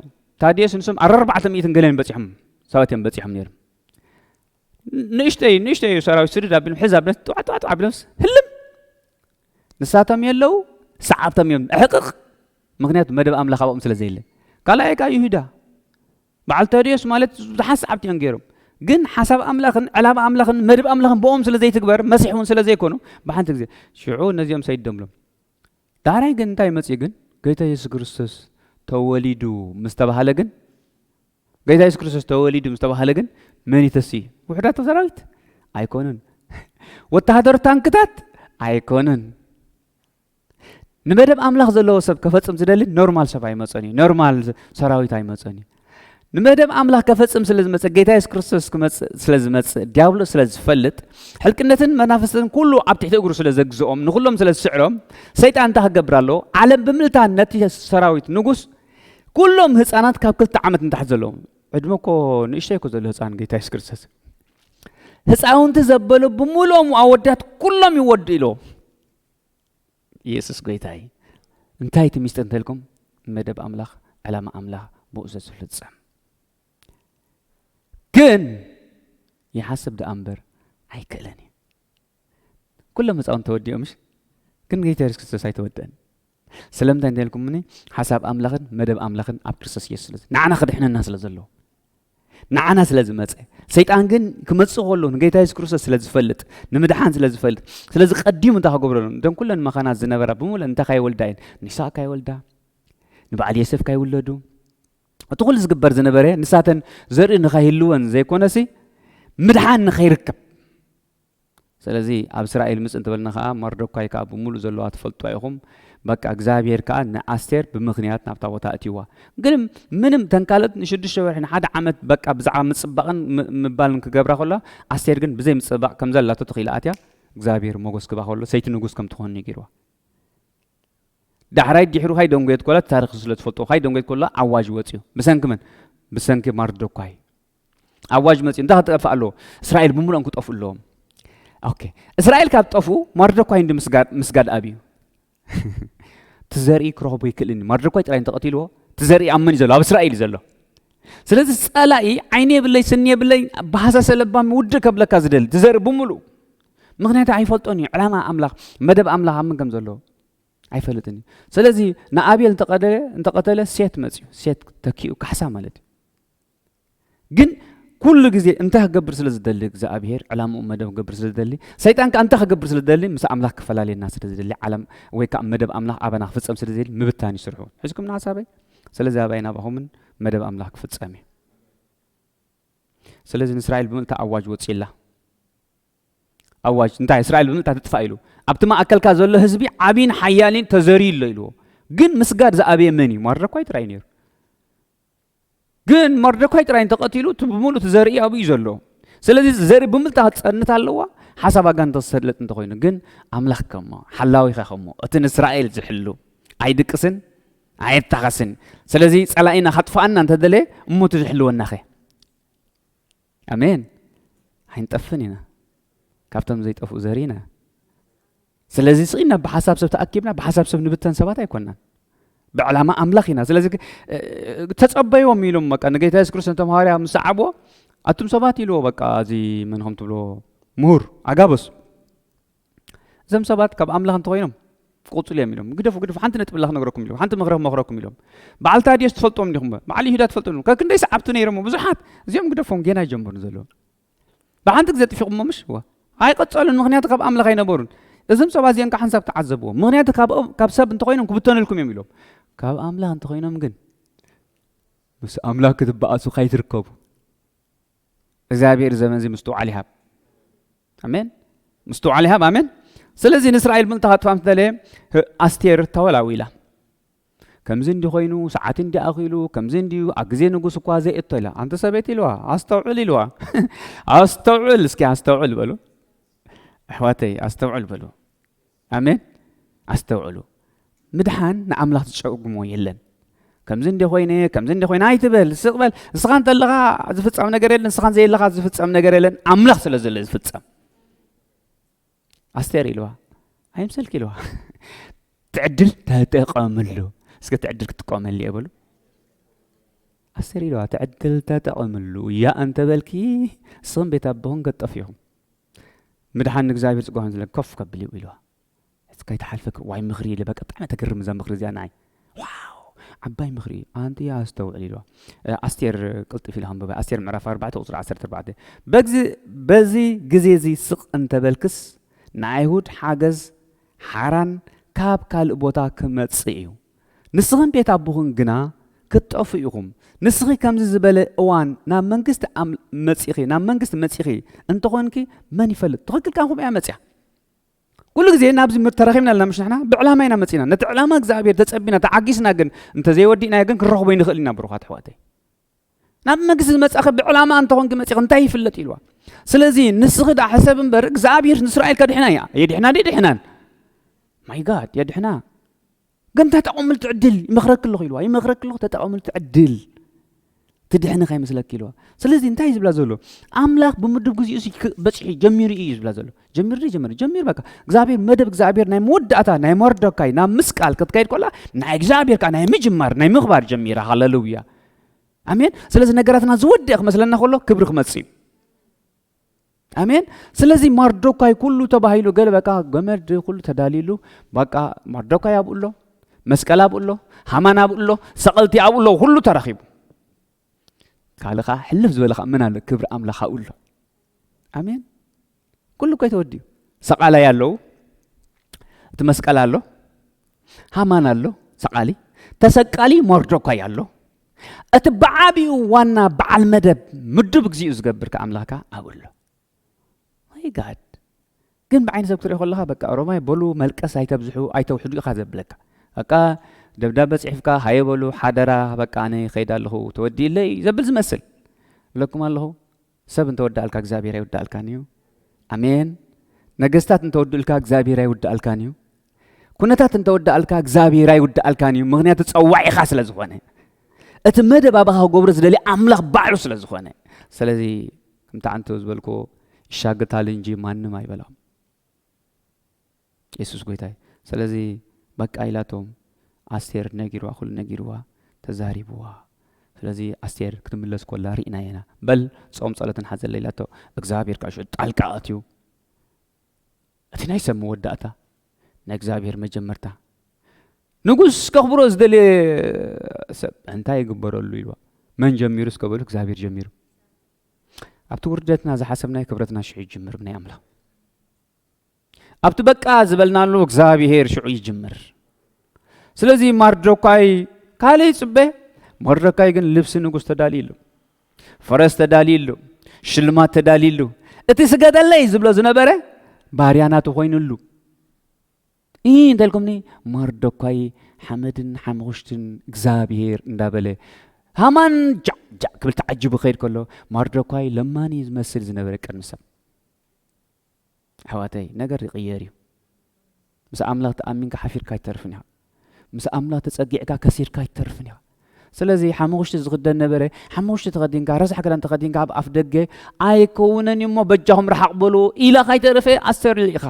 ታድዮስ ንሶም ኣረርባዕተ ሚእትን ገለን በፂሖም ሰባት እዮም በፂሖም ነይሮም ንእሽተይ ንእሽተይ እዩ ሰራዊት ስድድ ኣቢሎም ሕዝ ኣቢሎም ጥዋጥዋጥ ኣቢሎምስ ህልም ንሳቶም የለው ሰዓብቶም እዮም ዕሕቅቕ ምክንያቱ መደብ ኣምላኽ ኣብኦም ስለ ዘየለ ካልኣይ ከዓ ይሁዳ በዓል ተድዮስ ማለት ብዙሓት ሰዓብቲ እዮም ገይሮም ግን ሓሳብ ኣምላኽን ዕላማ ኣምላኽን መድብ ኣምላኽን ብኦም ስለ ዘይትግበር መሲሕ እውን ስለ ዘይኮኑ ብሓንቲ ግዜ ሽዑ ነዚኦም ሰይዶምሎም ዳሕራይ ግን እንታይ መጽዩ ግን ጎይታ የሱስ ክርስቶስ ተወሊዱ ምስ ተባህለ ግን ጎይታ የሱስ ክርስቶስ ተወሊዱ ምስ ተባህለ ግን መን ይተስእ እዩ ውሕዳት ሰራዊት ኣይኮነን ወተሃደር ታንክታት ኣይኮነን ንመደብ ኣምላኽ ዘለዎ ሰብ ከፈጽም ዝደሊ ኖርማል ሰብ ኣይመጸን እዩ ኖርማል ሰራዊት ኣይመጸን እዩ ንመደብ ኣምላኽ ከፈጽም ስለ ዝመጽእ ጌታ የሱስ ክርስቶስ ክመጽእ ስለ ዝመጽእ ዲያብሎስ ስለ ዝፈልጥ ሕልቅነትን መናፍስትን ኩሉ ኣብ ትሕቲ እግሩ ስለ ዘግዝኦም ንኹሎም ስለ ዝስዕሮም ሰይጣን እንታይ ክገብር ኣለዎ ዓለም ብምልታን ነቲ ሰራዊት ንጉስ ኩሎም ህፃናት ካብ ክልተ ዓመት ንታሕቲ ዘለዎም ዕድመ እኮ ንእሽተይ እኮ ዘሎ ህፃን ጌታ የሱስ ክርስቶስ ህፃውንቲ ዘበሉ ብምልኦም ኣወዳት ኩሎም ይወዱ ኢልዎም ኢየሱስ ጎይታ እዩ። እንታይ እቲ ሚስጥር እንተልኩም መደብ ኣምላኽ ዕላማ ኣምላኽ ብኡ ዘዝፍጸም ግን ይሓስብ ደኣ እምበር ኣይክእለን እዩ ኩሎም ህፃውን ተወዲኦምሽ ግን ጌታ የሱስ ክርስቶስ ኣይተወደአን ስለምንታይ እንተልኩምኒ ሓሳብ ኣምላኽን መደብ ኣምላኽን ኣብ ክርስቶስ ኢየሱስ ስለ ንዓና ክድሕነና ስለ ዘለዎ ንዓና ስለ ዝመፀ ሰይጣን ግን ክመፅእ ከሎ ንጌታ የሱስ ክርስቶስ ስለ ዝፈልጥ ንምድሓን ስለ ዝፈልጥ ስለዚ ቀዲሙ እንታይ ክገብረሎም እቶም ኩለን መኻናት ዝነበራ ብምሉእ እንታይ ካይወልዳ እየን ንይስሓቅ ካይወልዳ ንበዓል የሰፍ ካይውለዱ እቲ ኩሉ ዝግበር ዝነበረ ንሳተን ዘርኢ ንካይህልወን ዘይኮነሲ ምድሓን ንኸይርከብ ስለዚ ኣብ እስራኤል ምጽ እንተበልና ከኣ መርዶካይ ከኣ ብምሉእ ዘሎዋ ትፈልጥዋ ኢኹም በቃ እግዚኣብሄር ከኣ ንኣስቴር ብምኽንያት ናብታ ቦታ ኣእትይዋ ግን ምንም እተን ካልኦት ንሽዱሽተ ወርሒ ንሓደ ዓመት በቃ ብዛዕባ ምጽባቕን ምባልን ክገብራ ከለዋ ኣስቴር ግን ብዘይ ምጽባቕ ከም ዘላቶ ተኺላ ኣትያ እግዚኣብሄር ሞጎስ ክባ ከሎ ሰይቲ ንጉስ ከም ትኾን እዩ ገይርዋ ዳሕራይ ድሕሩ ካይ ደንጎየት ኮላ ታሪክ ስለ ትፈልጦ ካይ ደንጎየት ኮላ ዓዋጅ ወጽዩ ብሰንኪ መን ብሰንኪ ማርዶኳይ ኣዋጅ መፅኡ እንታይ ክጠፍእ ኣለዎ እስራኤል ብምሉኦም ክጠፍኡ ኣለዎም ኦኬ እስራኤል ካብ ጠፍኡ ማርደኳይ እንዲ ምስጋድ ምስጋድ ኣብ እዩ እቲ ዘርኢ ክረኽቦ ይክእልን እዩ ማርደኳይ ጥራይ እንተቐቲልዎ እቲ ዘርኢ ኣብ መን እዩ ዘሎ ኣብ እስራኤል እዩ ዘሎ ስለዚ ፀላኢ ዓይኒ የብለይ ስኒ የብለይ ብሃሳሰ ለባም ውድእ ከብለካ ዝደሊ እቲ ዘርኢ ብምሉእ ምክንያቱ ኣይፈልጦን እዩ ዕላማ ኣምላኽ መደብ ኣምላኽ ኣብ ምን ከም ዘለዎ ኣይፈልጥን እዩ ስለዚ ንኣብየል እንተቐተለ ሴት መፅዩ ሴት ተኪኡ ካሕሳ ማለት እዩ ግን ኩሉ ግዜ እንታይ ክገብር ስለ ዝደሊ እግዚኣብሄር ዕላምኡ መደብ ክገብር ስለ ዝደሊ ሰይጣን ከዓ እንታይ ክገብር ስለ ዝደሊ ምስ ኣምላኽ ክፈላለየና ስለ ዝደሊ ዓለም ወይ ከዓ መደብ ኣምላኽ ኣባና ክፍፀም ስለ ዝደሊ ምብታን ይስርሑ ሕዝኩም ንሓሳበይ ስለዚ ኣባይ ናባኹምን መደብ ኣምላኽ ክፍጸም እዩ ስለዚ ንእስራኤል ብምልታ ኣዋጅ ወፂላ ኣዋጅ እንታይ እስራኤል ብምልታ ትጥፋእ ኢሉ ኣብቲ ማእከልካ ዘሎ ህዝቢ ዓብይን ሓያልን ተዘርዩ ኣሎ ኢልዎ ግን ምስጋድ ዝኣበየ መን እዩ ማረኳ ይጥራይ ነይሩ ግን መርዶካይ ጥራይ እንተቐቲሉ እቲ ብምሉእ እቲ ዘርኢ ኣብኡ እዩ ዘሎ ስለዚ ዘርኢ ብምልታ ክትፀንት ኣለዋ ሓሳብ ኣጋንንቶ ዝሰለጥ እንተኮይኑ ግን ኣምላኽ ከሞ ሓላዊኻ ከሞ እቲ ንእስራኤል ዝሕሉ ኣይድቅስን ኣየታኸስን ስለዚ ፀላኢና ካጥፋኣና እንተደለየ እሞቲ ዝሕልወናኸ ኣሜን ኣይንጠፍን ኢና ካብቶም ዘይጠፍኡ ዘርኢ ኢና ስለዚ ስኢና ብሓሳብ ሰብ ተኣኪብና ብሓሳብ ሰብ ንብተን ሰባት ኣይኮናን ብዕላማ ኣምላኽ ኢና ስለዚ ተጸበይዎም ኢሎም በቃ ንጌታ የሱስ ክርስቶስ እቶም ሃዋርያ ምስ ሰዓብዎ ኣቱም ሰባት ኢልዎ በቃ እዚ መን ከም ትብልዎ ምሁር ኣጋበሱ እዞም ሰባት ካብ ኣምላኽ እንተኾይኖም ክቕፅሉ እዮም ኢሎም ግደፉ ግደፉ ሓንቲ ነጥቢ ላ ክነግረኩም ኢሎም ሓንቲ ምኽረ ክመኽረኩም ኢሎም በዓል ታዲዮስ ትፈልጦም ዲኹም በዓል ይሁዳ ትፈልጦም ካብ ክንደይ ሰዓብቲ ነይሮም ብዙሓት እዚኦም ግደፎም ጌና ይጀምሩ ዘለዉ ብሓንቲ ግዜ ጥፊኹሞ ምሽ ዋ ኣይቐፀሉን ምክንያቱ ካብ ኣምላኽ ኣይነበሩን እዞም ሰባት እዚኦም ከዓ ሰብ ተዓዘብዎ ምክንያቱ ካብ ሰብ እንተኮይኖም ክብተነልኩም እዮም ኢሎም ካብ ኣምላኽ እንተኮይኖም ግን ምስ ኣምላኽ ክትበኣሱ ካይትርከቡ እግዚኣብሔር ዘመን እዚ ምስትውዓል ይሃብ ኣሜን ምስትውዓል ይሃብ ኣሜን ስለዚ ንእስራኤል ምእንቲ ካጥፋም ዝተለየ ኣስቴር ተወላዊ ኢላ ከምዚ እንዲ ኮይኑ ሰዓት እንዲ ኣኺሉ ከምዚ እንዲዩ ኣብ ግዜ ንጉስ እኳ ዘይእቶ ኢላ ኣንቲ ሰበይቲ ኢልዋ ኣስተውዕል ኢልዋ ኣስተውዕል እስኪ ኣስተውዕል በሉ ኣሕዋተይ ኣስተውዕል በሉ ኣሜን ኣስተውዕሉ ምድሓን ንኣምላኽ ዝጨጉሞ የለን ከምዚ እንደ ኮይነ ከምዚ እንደ ኮይነ ኣይትበል ስቕ በል ንስኻ እንተለኻ ዝፍጸም ነገር የለን ንስኻ ዘየለኻ ዝፍጸም ነገር የለን ኣምላኽ ስለ ዘሎ ዝፍጸም ኣስቴር ኢልዋ ኣይምሰልኪ ኢልዋ ትዕድል ተጠቐምሉ እስከ ትዕድል ክትጥቀመሉ እየ በሉ ኣስቴር ኢልዋ ትዕድል ተጠቐምሉ እያ እንተበልኪ ንስኹም ቤት ኣቦኹም ከጠፍኹም ምድሓን ንእግዚኣብሔር ጽግዋን ዝለ ኮፍ ከብል እዩ ኢልዋ ሕጽ ከይትሓልፈኪ ዋይ ምኽሪ ኢለ በቃ ብጣዕሚ ተግርም እዛ ምኽሪ እዚኣ ንዓይ ዋው ዓባይ ምኽሪ እዩ ኣንቲ ኣስተውዕል ኢልዋ ኣስቴር ቅልጥፍ ኢለ ከንበባ ኣስቴር ምዕራፍ 4 ቁጽሪ 14 በዚ በዚ ግዜ እዚ ስቕ እንተበልክስ ንኣይሁድ ሓገዝ ሓራን ካብ ካልእ ቦታ ክመጽእ እዩ ንስኽን ቤት ኣቦኽን ግና ክትጠፍኡ ኢኹም። ንስኺ ከምዚ ዝበለ እዋን ናብ መንግስቲ መጺኺ ናብ መንግስቲ መጺኺ እንተኾንኪ መን ይፈልጥ ትኽክል ካንኩም እያ መጽያ ኩሉ ግዜ ናብዚ ተረኺብና ኣለና ምሽ ንሕና ብዕላማ ኢና መፂና ነቲ ዕላማ እግዚኣብሄር ተፀቢና ተዓጊስና ግን እንተዘይወዲእናዮ ግን ክንረኽቦ ይንኽእል ኢና ብሩኻት ኣሕዋተይ ናብ መግዚ ዝመጻኺ ብዕላማ እንተኾንኪ መጺኺ እንታይ ይፍለጥ ኢልዋ ስለዚ ንስኺ ዳ ሕሰብ እምበር እግዚኣብሔር ንእስራኤል ከድሕና እያ የድሕና ድ ድሕናን ማይ ጋድ የድሕና ግን ተጠቐምሉ ትዕድል ይመኽረኪ ኣለኹ ኢልዋ ይመኽረኪ ኣለኹ ተጠቐምሉ ትዕድል ትድሕኒ ከይመስለኪ ኢልዋ ስለዚ እንታይ እዩ ዝብላ ዘሎ ኣምላኽ ብምድብ ግዜኡ በፂሑ ጀሚሩ እዩ ዝብላ ዘሎ ጀሚር ዶ ጀሚር ጀሚር በቃ እግዚኣብሔር መደብ እግዚኣብሔር ናይ መወዳእታ ናይ መርዶካይ ናብ ምስቃል ክትከይድ ኮላ ናይ እግዚኣብሔር ከዓ ናይ ምጅማር ናይ ምኽባር ጀሚራ ሃለሉያ ኣሜን ስለዚ ነገራትና ዝወድእ ክመስለና ከሎ ክብሪ ክመፅእ እዩ ኣሜን ስለዚ ማርዶካይ ኩሉ ተባሂሉ ገለ በቃ ገመድ ኩሉ ተዳሊሉ በቃ ማርዶካይ ኣብኡ ኣሎ መስቀል ኣብኡ ኣሎ ሃማን ኣብኡ ኣሎ ሰቐልቲ ኣብኡ ኣሎ ኩሉ ተረኺቡ ካልእ ከዓ ሕልፍ ዝበለ ከዓ ምን ኣሎ ክብሪ ኣምላኽ ኣብኡ ኣሎ ኣሜን ኩሉ እኮ ተወዲኡ ሰቃላይ ኣለዉ እቲ መስቀል ኣሎ ሃማን ኣሎ ሰቃሊ ተሰቃሊ ሞርዶኳይ ኣሎ እቲ ብዓቢኡ ዋና በዓል መደብ ምዱብ እግዚኡ ዝገብር ከ ኣምላኽካ ኣብኡ ኣሎ ማይ ጋድ ግን ብዓይኒ ሰብ ክትሪኦ ከለካ በቃ ኦሮማይ በሉ መልቀስ ኣይተብዝሑ ኣይተውሕዱ ኢካ ዘብለካ በቃ ደብዳበ ጽሒፍካ ሃየ በሉ ሓደራ በቃ ኣነ ይከይድ ኣለኹ ተወዲእለይ ዘብል ዝመስል እብለኩም ኣለኹ ሰብ እንተወዳእልካ እግዚኣብሔር ኣይውዳእልካን እዩ ኣሜን ነገስታት እንተወድእልካ እግዚኣብሔር ኣይውዳእልካን እዩ ኩነታት እንተወዳእልካ እግዚኣብሔር ኣይውዳእልካን እዩ ምክንያቱ ፀዋዒኻ ስለ ዝኾነ እቲ መደብ ኣባኻ ክገብሮ ዝደሊ ኣምላኽ ባዕሉ ስለ ዝኾነ ስለዚ ከምቲ ዓንቶ ዝበልክዎ ይሻግታል እንጂ ማንም ኣይበላም የሱስ ጎይታ እዩ ስለዚ በቃ ኢላቶም ኣስቴር ነጊርዋ ኩሉ ነጊርዋ ተዛሪብዋ ስለዚ ኣስቴር ክትምለስ ኮላ ርኢና ኢና በል ፆም ፀሎትን ሓዘለ ኢላቶ እግዚኣብሔር ካሽ ጣልቃ ኣትዩ እቲ ናይ ሰብ መወዳእታ ናይ እግዚኣብሔር መጀመርታ ንጉስ ከኽብሮ ዝደለየ ሰብ እንታይ ይግበረሉ ኢልዋ መን ጀሚሩ እስከ በሉ እግዚኣብሔር ጀሚሩ ኣብቲ ውርደትና ዝሓሰብናይ ክብረትና ሽዑ ይጅምር ብናይ ኣምላኽ ኣብቲ በቃ ዝበልናሉ እግዚኣብሔር ሽዑ ይጅምር ስለዚ ማርዶካይ ካልእ ይፅበ መርዶካይ ግን ልብሲ ንጉስ ተዳልዩ ኣሎ ፈረስ ተዳልዩሉ ሽልማት ተዳልዩሉ እቲ ስገደለይ ዝብሎ ዝነበረ ባርያ ናቱ ኮይኑሉ እ እንተልኩምኒ መርዶኳይ ሓመድን ሓምኹሽትን እግዚኣብሄር እንዳበለ ሃማን ጃዕጃዕ ክብል ተዓጅቡ ከይድ ከሎ መርዶኳይ ለማኒ ዝመስል ዝነበረ ቅድሚ ሰብ ኣሕዋተይ ነገር ይቅየር እዩ ምስ ኣምላኽ ተኣሚንካ ሓፊርካ ኣይትተርፍን ኢኻ ምስ ኣምላኽ ተጸጊዕካ ከሲርካ ኣይትተርፍን ኢኻ ስለዚ ሓሙኽሽቲ ዝኽደን ነበረ ሓሙኽሽቲ ተኸዲንካ ረሳሕ ክዳን ተኸዲንካ ኣብ ኣፍ ደገ ኣይከውነን እሞ በጃኹም ረሓቕ በሉ ኢላ ካይተረፈ ኣስተርልዕ ኢኻ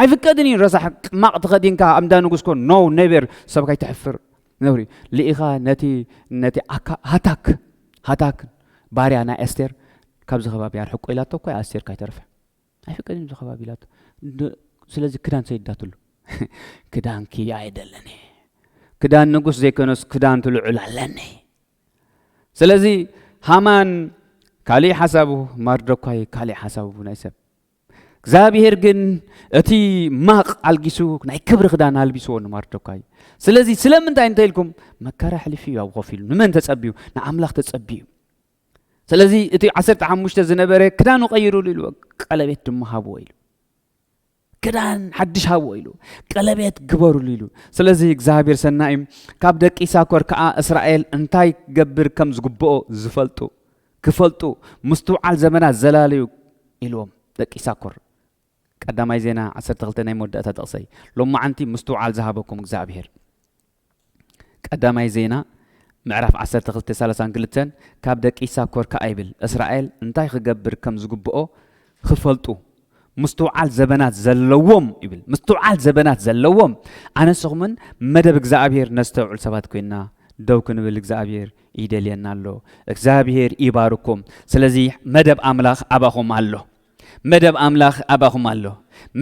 ኣይፍቀድን እዩ ረሳሕ ቅማቕ ተኸዲንካ ኣብ እንዳ ንጉስኮ ኖ ኔቨር ሰብ ከይተሕፍር ነውሪ ልኢኻ ነቲ ነቲ ኣካ ሃታክ ሃታክ ባርያ ናይ ኣስቴር ካብዚ ከባቢ ኣርሕቆ ኢላቶ እኳ ኣስቴር ካይተረፈ ኣይፍቀድን እዚ ከባቢ ኢላቶ ስለዚ ክዳን ሰይዳትሉ ክዳንኪ ኣይደለኒ ክዳን ንጉስ ዘይኮነስ ክዳን ትልዑል ኣለኒ ስለዚ ሃማን ካልእ ሓሳቡ ማርዶኳይ ካልእ ሓሳቡ ናይ ሰብ እግዚኣብሄር ግን እቲ ማቕ ኣልጊሱ ናይ ክብሪ ክዳን ኣልቢስዎ ንማርዶካይ እዩ ስለዚ ስለምንታይ እንተ ኢልኩም መከራ ሕሊፉ እዩ ኣብ ኮፍ ኢሉ ንመን ተጸብዩ ንኣምላኽ ተጸብዩ ስለዚ እቲ ዓሰርተ ሓሙሽተ ዝነበረ ክዳኑ ቀይሩሉ ኢሉ ቀለቤት ድማ ሃብዎ ኢሉ ክዳን ሓድሽ ሃብዎ ኢሉ ቀለቤት ግበሩሉ ኢሉ ስለዚ እግዚኣብሔር ሰናይ እዩ ካብ ደቂ ሳኮር ከዓ እስራኤል እንታይ ገብር ከም ዝግብኦ ዝፈልጡ ክፈልጡ ምስትውዓል ዘመናት ዘላለዩ ኢልዎም ደቂ ይሳኮር ቀዳማይ ዜና ዓሰርተ ክልተ ናይ መወዳእታ ጥቕሰይ ሎማዓንቲ ምስትውዓል ዝሃበኩም እግዚኣብሄር ቀዳማይ ዜና ምዕራፍ ዓሰርተ ክልተ ሰላሳን ክልተን ካብ ደቂ ይሳኮር ከኣ ይብል እስራኤል እንታይ ክገብር ከም ዝግብኦ ኽፈልጡ ምስትውዓል ዘበናት ዘለዎም ይብል ምስትውዓል ዘበናት ዘለዎም ኣነስኹምን መደብ እግዚኣብሄር ነስተውዕል ሰባት ኮይና ደው ክንብል እግዚኣብሄር ይደልየና ኣሎ እግዚኣብሄር ይባርኩም ስለዚ መደብ ኣምላኽ ኣባኹም ኣሎ መደብ ኣምላኽ ኣባኹም ኣሎ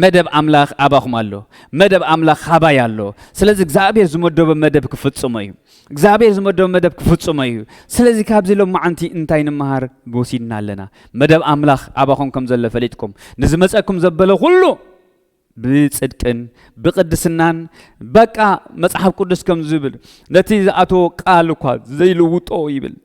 መደብ ኣምላኽ ኣባኹም ኣሎ መደብ ኣምላኽ ሃባይ ኣሎ ስለዚ እግዚኣብሄር ዝመደቦ መደብ ክፍጽሞ እዩ እግዚኣብሔር ዝመደቦ መደብ ክፍጽሞ እዩ ስለዚ ካብዚ ሎማዓንቲ እንታይ ንመሃር ወሲድና ኣለና መደብ ኣምላኽ ኣባኹም ከም ዘሎ ፈሊጥኩም ንዝመጸኩም ዘበለ ኩሉ ብጽድቅን ብቅድስናን በቃ መጽሓፍ ቅዱስ ከም ዝብል ነቲ ዝኣተዎ ቃል እኳ ዘይልውጦ ይብል